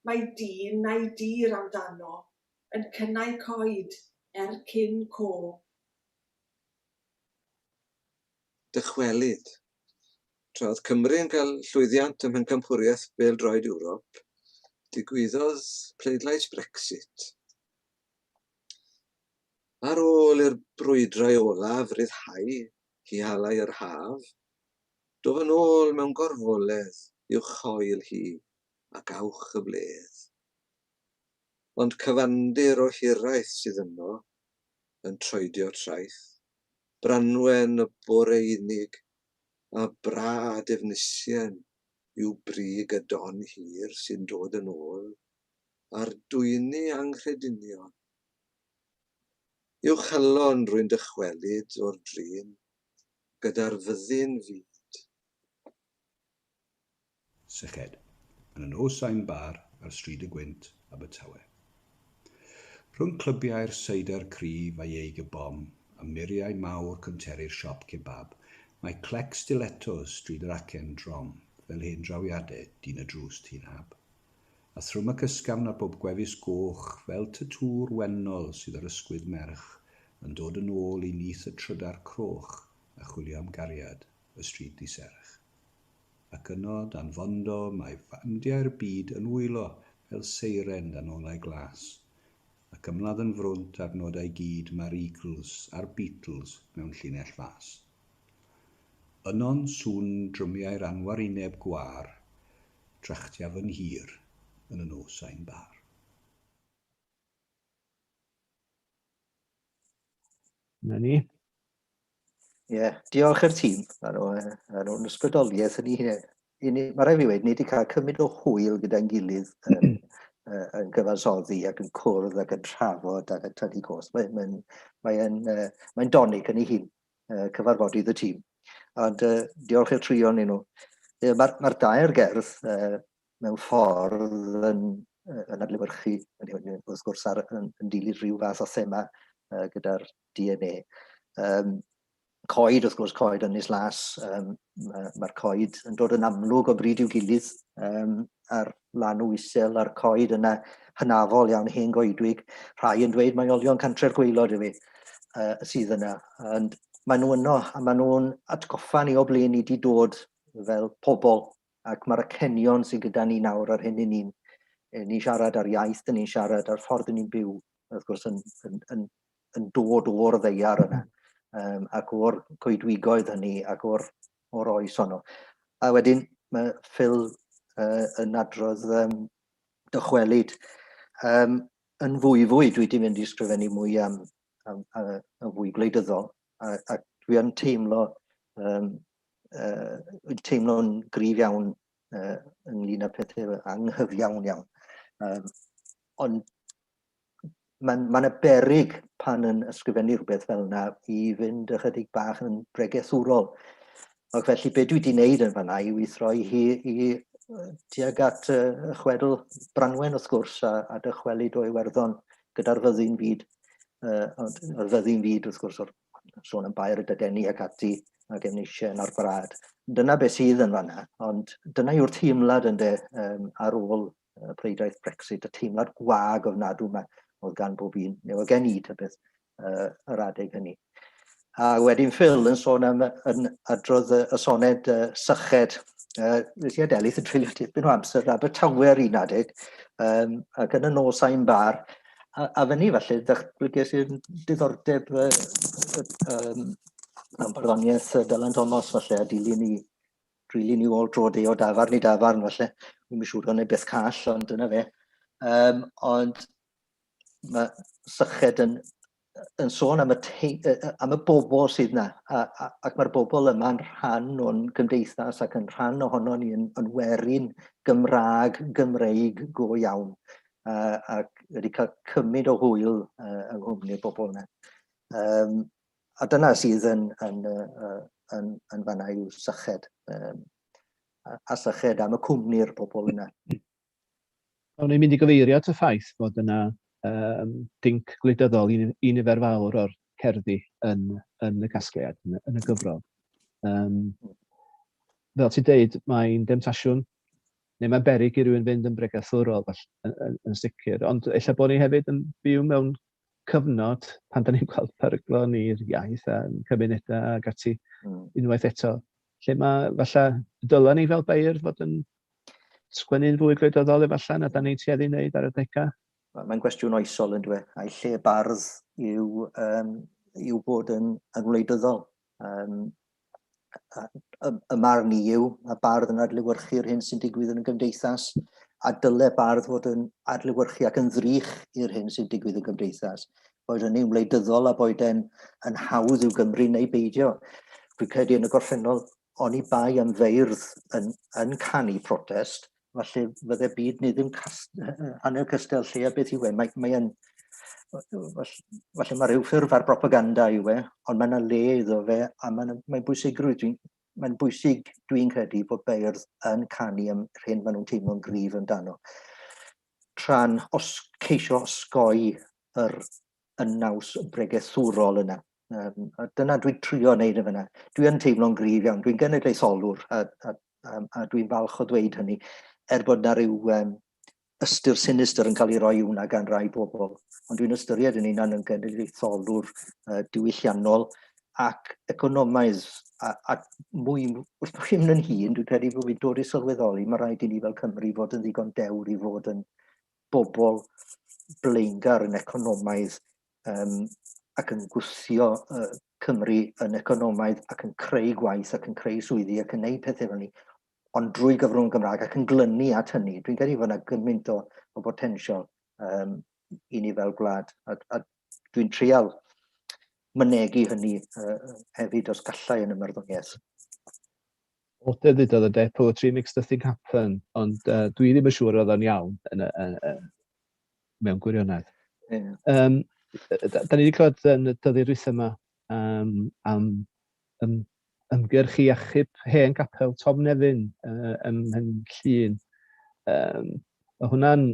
Speaker 7: Mae dyn neu dir amdano yn cynnau coed er cyn cof.
Speaker 8: Dychwelyd. Tra oedd Cymru yn cael llwyddiant ym Mhencampwriaeth Bêl-droed Ewrop, digwyddodd pleidlais Brexit. Ar ôl i'r brwydrau olaf ryddhau i halau yr haf, Dof yn ôl mewn gorfoledd i'w choel hi, ac awch y bledd. Ond cyfandir o hiraeth sydd yno, yn troedio traeth, Branwen y boreunig, a brâd Efnisien yw brig y don hir sy'n dod yn ôl ar dwyni anghredinion. I'w chalon rwy'n dychwelyd o'r drin, gyda'r fyddin fyd.
Speaker 9: Syched, yn y nos sain bar ar Stryd y Gwynt, Abertawe. Rhwng clybiau'r seidr cryf a ieig y bom a muriau mawr cwnteri'r siop kebab, mae clec stilettos Stryd yr Acen drom fel hen drawiadau dyn y drws tŷ'n hab. a thrwm ac ysgafn ar bob gwefus goch fel tatŵ'r wennol sydd ar ysgwydd merch yn dod yn ôl i nyth y trydar croch a chwilio am gariad, y stryd ddi-serch. Ac yno, dan fondo, mae fandiau'r byd yn wylo fel seiren dan olau glas, ac ymladd yn frwnt ar nodau gyd mae'r Eagles a'r Beatles mewn llinell fas. Yno'n sŵn drymiau'r anwarineb gwâr, Drachtia fy nghir yn y nos ain bar.
Speaker 2: Na ni. Ie,
Speaker 4: yeah. diolch i'r tîm ar o'n ysbrydoliaeth yn ei hunain. Mae rhaid fi wedi, ni wedi cael cymryd o hwyl gyda'n gilydd yn, yn gyfansoddi ac yn cwrdd ac yn trafod ac yn tynnu cos. Mae'n mae, mae, mae, mae donig yn ei hun. uh, cyfarfodydd y tîm. Ond uh, diolch i'r trio ni nhw. Uh, Mae'r ma dair gerdd uh, mewn ffordd yn, yn adlewyrchu, wrth gwrs, ar, yn, yn dilyn rhyw fath o thema uh, gyda'r DNA. Um, coed, wrth gwrs, coed yn nes las, um, mae'r coed yn dod yn amlwg o bryd i'w gilydd um, ar Llanw isel a'r coed yna hynafol iawn, hen goedwig. Rhai yn dweud mae olion cantre'r gweilod yw uh, sydd yna. And maen nhw yno, a maen nhw'n atgoffa ni o ble ni wedi dod fel pobl, ac mae'r acenion sydd gyda ni nawr ar hyn i ni'n ni siarad ar iaith, ni'n siarad ar ffordd ni'n byw, wrth gwrs, yn, yn, yn, yn dod o'r ddeiar yna, um, ac o'r coedwigoedd hynny, ac o'r o'r oes honno. A wedyn mae Phil uh, yn adrodd um, dychwelyd um, yn fwy fwy, dwi wedi mynd i ysgrifennu mwy am, am, am, am fwy gwleidyddol, a, a dwi yn teimlo um, uh, teimlo'n grif iawn uh, ynglyn â pethau anghyfiawn iawn. Um, ond mae'n ma berig pan yn ysgrifennu rhywbeth fel yna i fynd ychydig bach yn bregethwrol. Ac felly be dwi wedi wneud yn fanna yw i throi hi i tuag at uh, chwedl Branwen wrth gwrs a, a dychwelyd o Iwerddon gyda'r fyddin fyd. Uh, ond yr fyddin fyd wrth gwrs o'r sôn am bair y dydeni ac ati ac yn eisiau yn arbrad. Dyna beth sydd yn fanna, ond dyna yw'r teimlad ynddo um, ar ôl y preidaeth Brexit, y teimlad gwag ofnadw yma oedd gan bob un, neu oedd gen i tybeth, uh, yr adeg hynny. A wedyn Phil yn sôn am yn adrodd y soned uh, syched, uh, nes i adelydd yn treulio tipyn o amser Abertawe ar un adeg, um, ac yn y nos a'i'n bar, a, a fyny falle, ddatblygiais i'r diddordeb uh, um, am barddoniaeth Dylan Thomas falle, a dilyn i rili ni ôl dro de o dafarn i dafarn falle. Wi'n mynd siŵr o'n ei beth call, ond dyna fe. Um, ond mae syched yn, yn sôn am y, te, am y bobl sydd yna, a, a, ac mae'r bobl yma'n rhan o'n gymdeithas ac yn rhan ohono ni yn, yn werin Gymraeg, Gymreig go iawn. Uh, ac wedi cael cymryd o hwyl uh, yng nghwmni'r bobl yna. Um, a dyna sydd yn, yn, yn, yn, yn fanna yw syched. Um, a syched am y cwmni'r pobl yna.
Speaker 2: O'n i'n mynd i gyfeirio at y ffaith bod yna um, dinc gwleidyddol i, i nifer fawr o'r cerddi yn, yn y casgliad, yn, yn y gyfrol. Um, fel ti'n deud, mae'n demtasiwn, neu mae'n berig i rywun fynd yn bregethwrol yn, yn, yn sicr, ond efallai bod ni hefyd yn byw mewn cyfnod pan da ni'n gweld peryglon i'r iaith a'n cymunedau ac ati hmm. unwaith eto, lle mae falle dylen ni fel beirdd fod yn sgwennu'n fwy gwleidyddol efallai na da ni'n tueddu wneud ar y degau. Mae'n gwestiwn
Speaker 4: oesol yn dweud, a'i lle bardd yw, um, yw bod yn, yn wleidyddol. Um, y marn i yw, mae bardd yn adlywyrchu'r hyn sy'n digwydd yn y gymdeithas, a dyle bardd fod yn adlywyrchu ac yn ddrych i'r hyn sy'n digwydd yn y gymdeithas. Boed hynny'n wleidyddol a boed e'n yn hawdd i'w Gymru neu beidio. Dwi'n credu yn y gorffennol, oni bai am feirdd yn, yn canu protest, falle fydde byd ni ddim cast, hanner cystal lle a beth yw e. Mae, mae yn, falle mae rhyw ffurf ar propaganda yw e, ond mae yna le iddo fe a mae'n mae bwysigrwydd. Dwi'n mae'n bwysig, dwi'n credu, bod beirdd yn canu am yr hyn maen nhw'n teimlo'n gryf amdano. Tra'n os, ceisio osgoi yr, y naws bregethwrol yna. Um, a dyna dwi'n trio wneud y fyna. Dwi yn teimlo'n gryf iawn, dwi'n genedlaetholwr a, a, a, a dwi'n falch o ddweud hynny, er bod na rhyw um, ystyr sinistr yn cael ei roi hwnna gan rai bobl. Ond dwi'n ystyried yn un yn genedlaetholwr uh, diwylliannol ac economaidd a, a mwy, wrth bod chi'n mynd yn hun, dwi'n credu bod fi'n dod i sylweddoli, mae rhaid i ni fel Cymru fod yn ddigon dewr i fod yn bobl blaengar yn economaidd um, ac yn gwthio uh, Cymru yn economaidd ac yn creu gwaith ac yn creu swyddi ac yn neud pethau fel ni, ond drwy gyfrwng Gymraeg ac yn glynu at hynny. Dwi'n credu fod yna gymaint o, o botensial um, i ni fel gwlad a, a dwi'n trial mynegu hynny uh, hefyd os gallai yn ymwrddoniaeth.
Speaker 2: O dy ddudodd y de, poetry makes the thing happen, ond uh, dwi ddim yn siŵr oedd o'n iawn yn, yn, yn, mewn gwirionedd. Yeah. Um, da, da ni wedi clywed yn y dyddi'r rhywbeth yma um, am um, ymgyrch i achub hen gapel Tom Nefyn uh, ym Mhen Llun. Um, mae hwnna'n,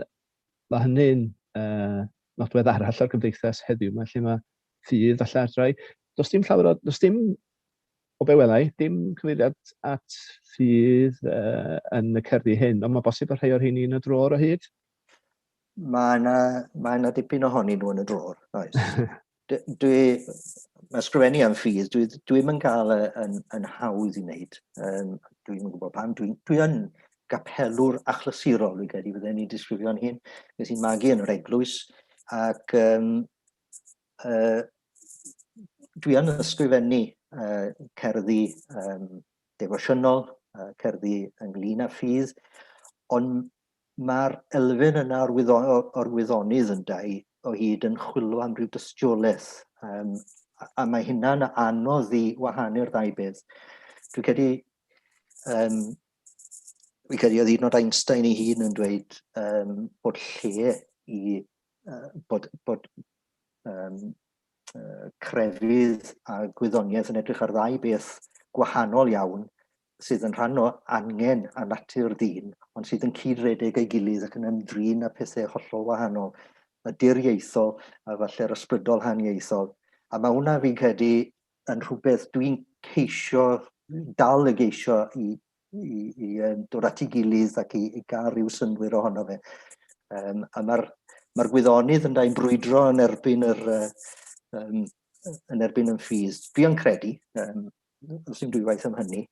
Speaker 2: mae hynny'n uh, nodwedd arall o'r gymdeithas heddiw, mae lle mae ffydd a lladrau. Does dim llawer o, does dim O be wela i, dim cyfeiriad at ffydd uh, yn y cerddi hyn, ond mae bosib bod rhai o'r rheini yn y drôr o hyd?
Speaker 4: Mae yna, mae yna dipyn ohonyn nhw yn y drôr, oes. dwi, mae sgrifennu am ffydd, dwi, dwi ddim yn cael e yn, yn hawdd i wneud. Um, dwi ddim yn gwybod pam. Dwi, dwi yn gapelwr achlysurol, dwi'n credu, fydden ni'n disgrifio'n hyn. Nes i'n magu yn yr eglwys, ac um, Uh, dwi yn ysgrifennu uh, cerddi um, defosiynol, uh, cerddi ynglyn â ffydd, ond mae'r elfen yna o'r, wyddo, or wyddonydd yn dau o hyd yn chwilio am ryw dystiolaeth, um, a, a mae hynna'n anodd i wahanu'r ddau beth. Dwi'n credu, um, fi'n credu oedd un o'r Einstein ei hun yn dweud um, bod lle i uh, bod, bod, um, uh, crefydd a gwyddoniaeth yn edrych ar ddau beth gwahanol iawn sydd yn rhan o angen a natur ddyn, ond sydd yn cyd-redeg ei gilydd ac yn ymdrin â pethau hollol wahanol, y diriaethol a falle'r ysbrydol haniaethol. A mae hwnna fi'n credu yn rhywbeth dwi'n ceisio, dal y geisio i i, i um, dod at ei gilydd ac i, i gael rhyw synwyr ohono fe. Um, a mae'r mae gwyddonydd yn dau'n brwydro yn erbyn yr, uh, um, yn erbyn yn ffydd. Dwi yn credu, um, os yw'n dwywaith am hynny,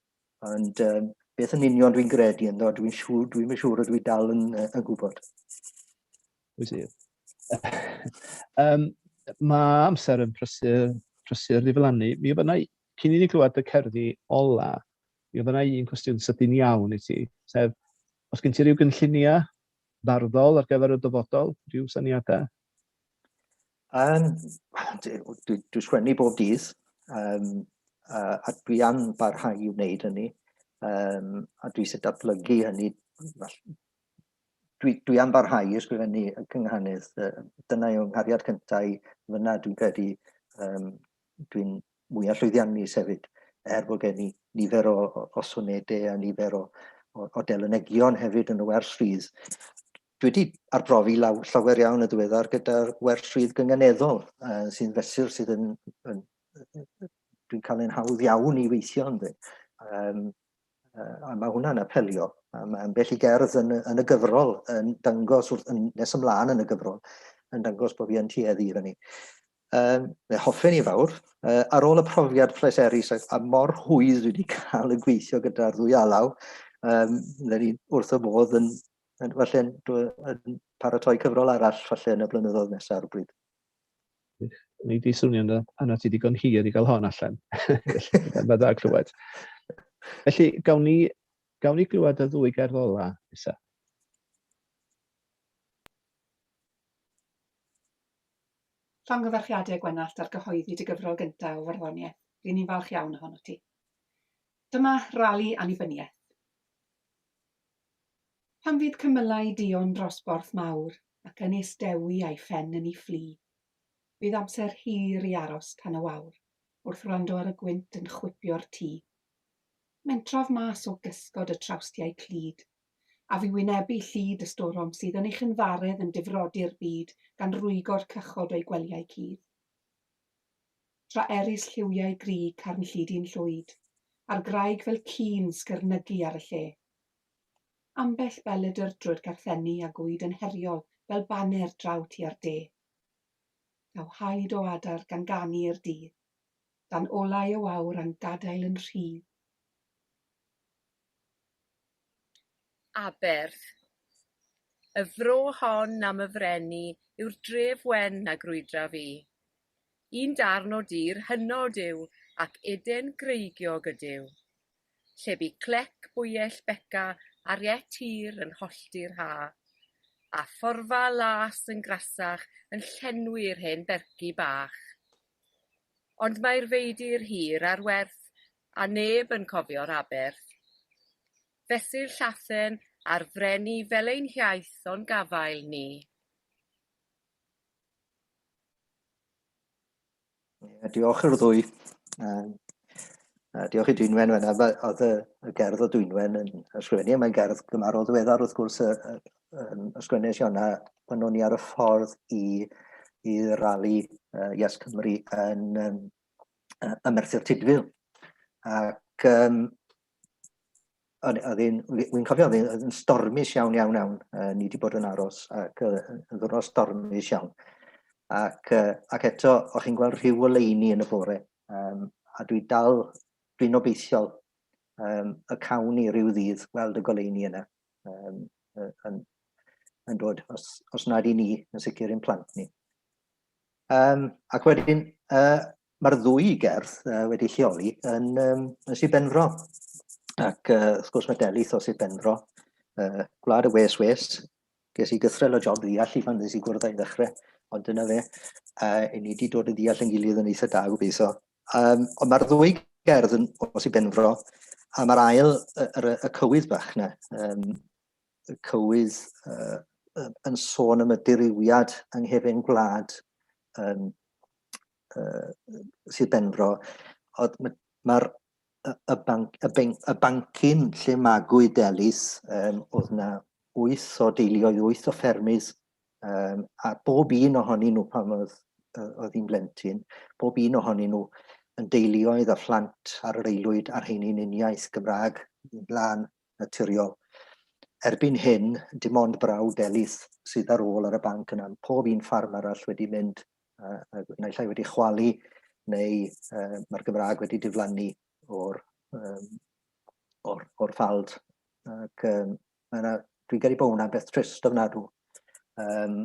Speaker 4: ond um, beth yn union dwi'n gredu ynddo, dwi'n siŵr, dwi'n siŵr o dwi dal yn, uh, yn gwybod. Wyt ti? um,
Speaker 2: mae amser yn prysur, prysur ddiflannu. Mi yna, cyn i ni glywed y cerddi ola, Mi oedd yna un cwestiwn sydyn iawn i ti, sef, os gen ti ryw gynlluniau farddol ar gyfer y dyfodol, rhyw syniadau? Um,
Speaker 4: dwi, dwi sgwennu bob dydd, um, a, a dwi am barhau i wneud hynny, um, a dwi eisiau datblygu hynny. Dwi, dwi am barhau i ysgrifennu y cynghanydd, dyna yw nghariad cyntaf i fyna dwi'n credu, um, dwi'n mwya llwyddiannus hefyd, er bod gen i nifer o, o, o sonede a nifer o, o, o delynegion hefyd yn y wers rhydd. Dwi wedi arbrofi law, llawer iawn y diweddar gyda'r wers rhydd gynganeddol uh, sy'n fesur sydd yn, yn dwi'n cael ein hawdd iawn i weithio yn dweud. Um, uh, a mae hwnna'n apelio. A mae ambell i gerdd yn, yn y gyfrol yn dangos wrth yn nes ymlaen yn y gyfrol yn dangos bod fi yn tueddu i fyny. Um, fe hoffen i fawr. Uh, ar ôl y profiad pleserus a, a mor hwydd wedi cael y gweithio gyda'r ddwy alaw, um, le ni wrth y modd yn, yn, falle, yn paratoi cyfrol arall falle yn y blynyddoedd nesaf ar y bryd.
Speaker 2: Ni di swnio yna, yna ti digon hir i gael hon allan. Mae dda clywed. Felly, gawn ni, gawn ni glywed y ddwy gerdd ola, Isa?
Speaker 10: Llongyfarchiadau Gwenallt ar gyhoeddi dy gyfrol gyntaf o farddoniaeth, ry'n ni'n falch iawn ohonot ti. Dyma rali annibyniaeth. Pan fydd cymylau duon dros borth mawr ac Ynys Dewi a'i phen yn ei fflu, bydd amser hir i aros tan y wawr wrth wrando ar y gwynt yn chwipio'r tŷ. Mentrodd mas o gysgod y trawstiau clyd. a fu wynebu llid y storom sydd yn ei chynfaredd yn difrodi'r byd gan rwygo'r cychod o'i gwelyau cudd. Tra erys lliwiau grug carn llidi'n llwyd, a'r graig fel ci'n sgyrnygu ar y lle. Ambell beledr drwy'r garthenni a gwyd yn heriol fel baner draw tua'r de. Daw haid o adar gan ganu i'r dydd, dan olau y wawr a'n gadael yn rhydd.
Speaker 11: Aberth. Y fro hon am y freni yw'r dref wen na grwydraf i. Un darn o dir hynod yw ac eden greigiog ydyw. Lle bu clec bwyell Beca ar iet hir yn hollti'r ha, a phorfa las yn grasach yn llenwi'r hen ferci bach. Ond mae'r feidir hir ar werth A neb yn cofio'r aberth. Fesur Llathen a'r Freni fel ein hiaith o'n gafael ni.
Speaker 4: Ie, diolch i'r ddwy. Um, a diolch i Dwynwen fan yma. Oedd y, y gerdd o Dwynwen yn ysgrifennu, mae'n gerdd gymarol ddiweddar wrth gwrs y, y, y, ysgrifennu Siona pan o'n i ar y ffordd i, i rali uh, Yes Cymru yn, um, ym Merthyr Tudful. Ac um, oedd hi'n, wy'n cofio, oedd hi'n stormus iawn, iawn, iawn. Uh, ni wedi bod yn aros ac uh, yn ddwrnod stormus iawn. Ac, uh, ac eto, o'ch chi'n gweld rhyw oleini yn y bore. Um, a dwi dal, dwi'n obeithiol um, y cawn ni rhyw ddydd weld y goleini yna um, yn, yn dod, os, os nad i ni, yn sicr i'n plant ni. Um, ac wedyn, uh, mae'r ddwy gerdd uh, wedi lleoli yn, um, yn Sir Benfro. Ac uh, wrth gwrs mae Delith o Sir Benfro, uh, gwlad y wes wes, ges i gythrel o job ddeall i fan nes i gwrdd â'i ddechrau, ond dyna fe, uh, i ni wedi dod yn ddeall yn gilydd yn eitha da gobeithio. Um, ond mae'r ddwy gerdd yn os i benfro, a mae'r ail, y, y, y cywydd bach na, um, y cywydd uh, yn sôn am y dirywiad yng nghefn gwlad um, uh, Sir Benfro, oedd mae'r ma y, banc, y, banc, y bancyn lle magwyd Delis, um, oedd yna wyth o deuluoedd, wyth o ffermydd, um, a bob un ohonyn nhw pan oedd, oedd hi'n blentyn, bob un ohonyn nhw yn deuluoedd a phlant ar yr aelwyd a'r heini'n uniaith Gymraeg, blaen naturiol. Erbyn hyn, dim ond brawd Elis sydd ar ôl ar y banc yna. Pob un ffarm arall wedi mynd, uh, naill ai wedi chwalu, neu uh, mae'r Gymraeg wedi diflannu o'r, um, or, or ffald. Ac um, yna, dwi'n gyrru bod hwnna'n beth trist ofnadw. Um,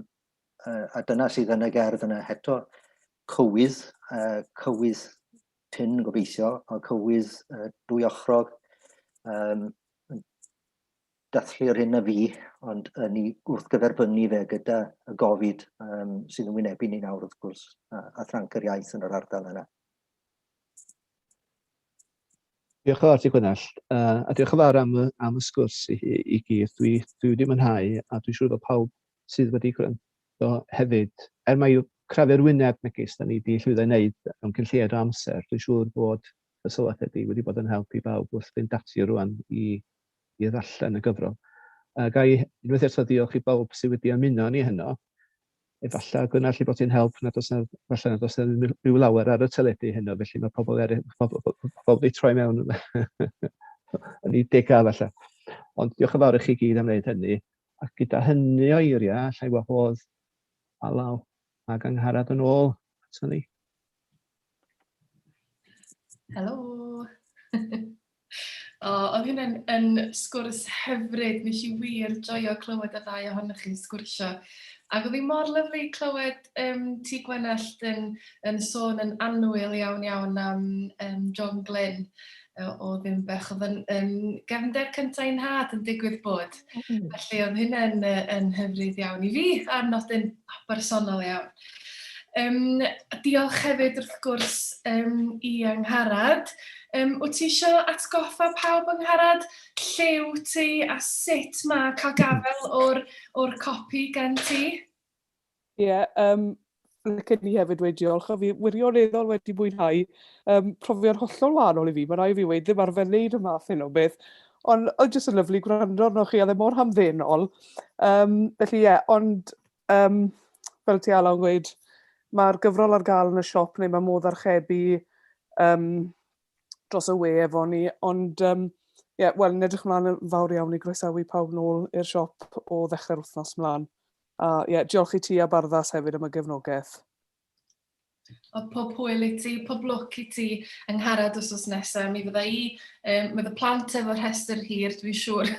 Speaker 4: uh, a dyna sydd yn y gerdd yna heto, cywydd, uh, cywydd prin gobeithio, a cywydd uh, dwyochrog, um, dathlu'r hyn a fi, ond yn ei wrth gyferbynnu fe gyda y gofid um, sydd yn wynebu ni nawr wrth gwrs, a, a thranc yr iaith yn yr ardal yna.
Speaker 2: Diolch yn fawr ti Gwynell, uh, a diolch yn fawr am, am y sgwrs i, i gyd. Dwi, dwi wedi mwynhau, a dwi'n siŵr bod pawb sydd wedi gwrando hefyd. Er mai crafu'r wyneb megis da ni wedi llwyddo i wneud mewn cyn lleied o amser, dwi'n siŵr bod y sylwadau di wedi bod yn help i bawb wrth fynd ati rwan i, i ddarllen y gyfrol. A ga i unwaith eto ddiolch i bawb sydd wedi ymuno ni heno. Efallai gwna lle bod ti'n help nad oes na, efallai nad oes na rhyw lawer ar y teledu heno, felly mae pobl er, pobl, pobl, pobl wedi troi mewn yn ei degau efallai. Ond diolch yn fawr i chi gyd am wneud hynny. Ac gyda hynny o eiriau, allai wahodd Alaw ac Angharad yn ôl ato ni.
Speaker 1: Helo! o, oedd hynny'n yn sgwrs hyfryd. Nes i wir joio clywed y ddau ohonych chi sgwrsio. Ac oedd hi mor lyflu clywed um, ti Gwenallt yn, yn sôn yn anwyl iawn iawn am um, John Glynn. oedd yn bech, oedd yn, yn gefnder cyntaf i'n had yn digwydd bod. Mm. Felly oedd hynny'n yn hyfryd iawn i fi, ar nodyn bersonol iawn. Um, diolch hefyd wrth gwrs um, i Angharad. Um, wyt ti eisiau atgoffa pawb yng Ngharad lle wyt ti a sut mae cael gafel o'r, or copi gen ti? Ie,
Speaker 3: yeah, um, licen i hefyd wedi diolch, a fi wirioneddol wedi mwynhau um, profiad hollol wahanol i fi. Mae rai fi wedi ddim arfer wneud y math hyn o beth, ond oedd jyst yn lyflu gwrando arno chi, a ddim e mor hamddenol. Um, felly ie, yeah, ond um, fel ti Ala'n gweud, mae'r gyfrol ar gael yn y siop neu mae modd archebu um, dros y we efo ni, ond um, yeah, wel, yn edrych mlaen yn fawr iawn i groesawu pawb nôl i'r siop o ddechrau'r wythnos mlaen. A ie, diolch i ti a Barddas hefyd am y gefnogaeth. Wel,
Speaker 1: pob hwyl i ti, pob lwc i ti yng Ngharad wsos nesaf. Mi fydda i, um, mae fy plant efo rhestr hir, dwi'n siŵr,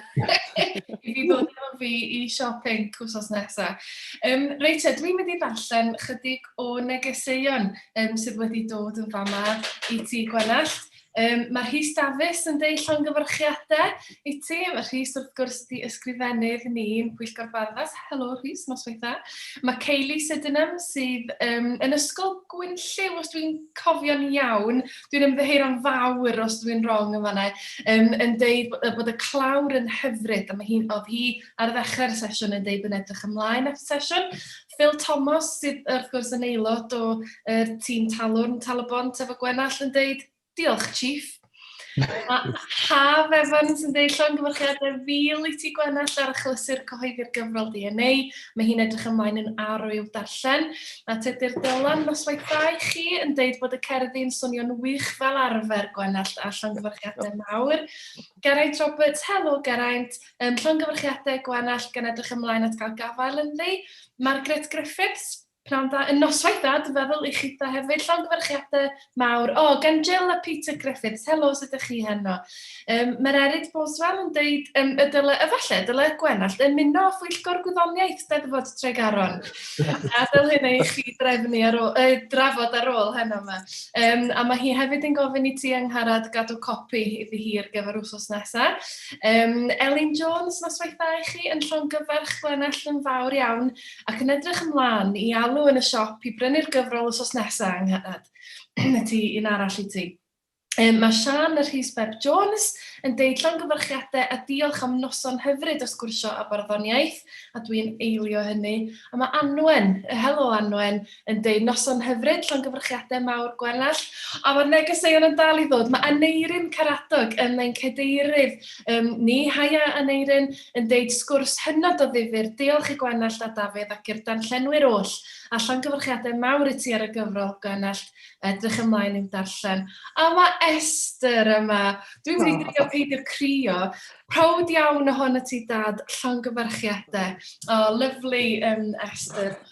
Speaker 1: i fi ddod efo fi i siop Inc wsos nesaf. Um, reit, e, dwi'n mynd i ddarllen chydig o negeseuon um, sydd wedi dod yn fama i ti, Gwenallt. Um, mae Rhys Dafis yn deud llongyfarchiadau i ti. Mae Rhys wrth gwrs di ysgrifennydd ni'n Pwyllgor Barddas. Helo Rhys, nos weitha. Mae Kaylee Sydenham sydd um, yn ysgol Gwynllyw, os dwi'n cofio'n iawn. Dwi'n ymddeheir am fawr os dwi'n wrong yn fanna. Um, yn deud bod y clawr yn hyfryd. A mae hi'n oedd hi ar ddechrau'r sesiwn yn deud bod yn edrych ymlaen at sesiwn. Phil Thomas sydd wrth gwrs yn aelod o er, tîm talwrn Tal-y-bont efo Gwenall yn deud, diolch Chief. A Haf Evans yn deud llongyfarchiadau fil i ti Gwenall ar achlysur cyhoeddi'r gyfrol DNA. Mae hi'n edrych ymlaen yn arw i'w darllen. A Tedir Dylan, noswaith da i chi, yn deud bod y cerddi yn swnio'n wych fel arfer Gwenall a llongyfarchiadau mawr. Geraint Roberts, helo Geraint, Ym llongyfarchiadau Gwenallt gan edrych ymlaen at gael gafael ynddi. Margaret Griffiths, Pnawn da, yn noswaith da, dwi'n feddwl, i chi da hefyd. Llongyfarchiadau mawr. O, oh, gan Jill a Peter Griffiths, helo, sut ydych chi heno? Um, Mae'r Erid Boswell yn dweud um, y dyle, y falle, y dyle Gwenallt ymuno â phwyllgor gwyddoniaeth Steddfod Tregaron. a dyl hyn ei chi drefnu ar ôl, uh, drafod ar ôl heno yma. Um, a mae hi hefyd yn gofyn i ti angharad gadw copi iddi hi ar gyfer wsos nesaf. Yym, Elin Jones, noswaithau i chi yn llongyfarch Glenelg yn fawr iawn ac yn edrych ymlaen i alw yn y siop i brynu'r gyfrol wsos nesaf yng Nghanad. y ti un arall i ti. Um, mae Sian y Rhys Beb Jones yn deud llongyfarchiadau a diolch am noson hyfryd o sgwrsio a barddoniaeth, a dwi'n eilio hynny. A mae Anwen, helo Anwen, Yndi, noson hyfryd, llongyfarchiadau mawr Gwenallt. A mae'r negeseuon yn dal i ddod. Mae Aneirin Caradog yn ein cadeirydd um, ni, haia Aneirin, yn deud sgwrs hynod o ddifur. Diolch i Gwenallt a Dafydd ac i'r darllenwyr oll. A llongyfarchiadau mawr i ti ar y gyfrol, Gwenallt. Edrych ymlaen i'w darllen. A mae Esther yma. Dwi'n mynd i drio peidio crio. Proud iawn o hon y ti, Dad. Llongyfarchiadau. O, oh, lyflu, um, Esther.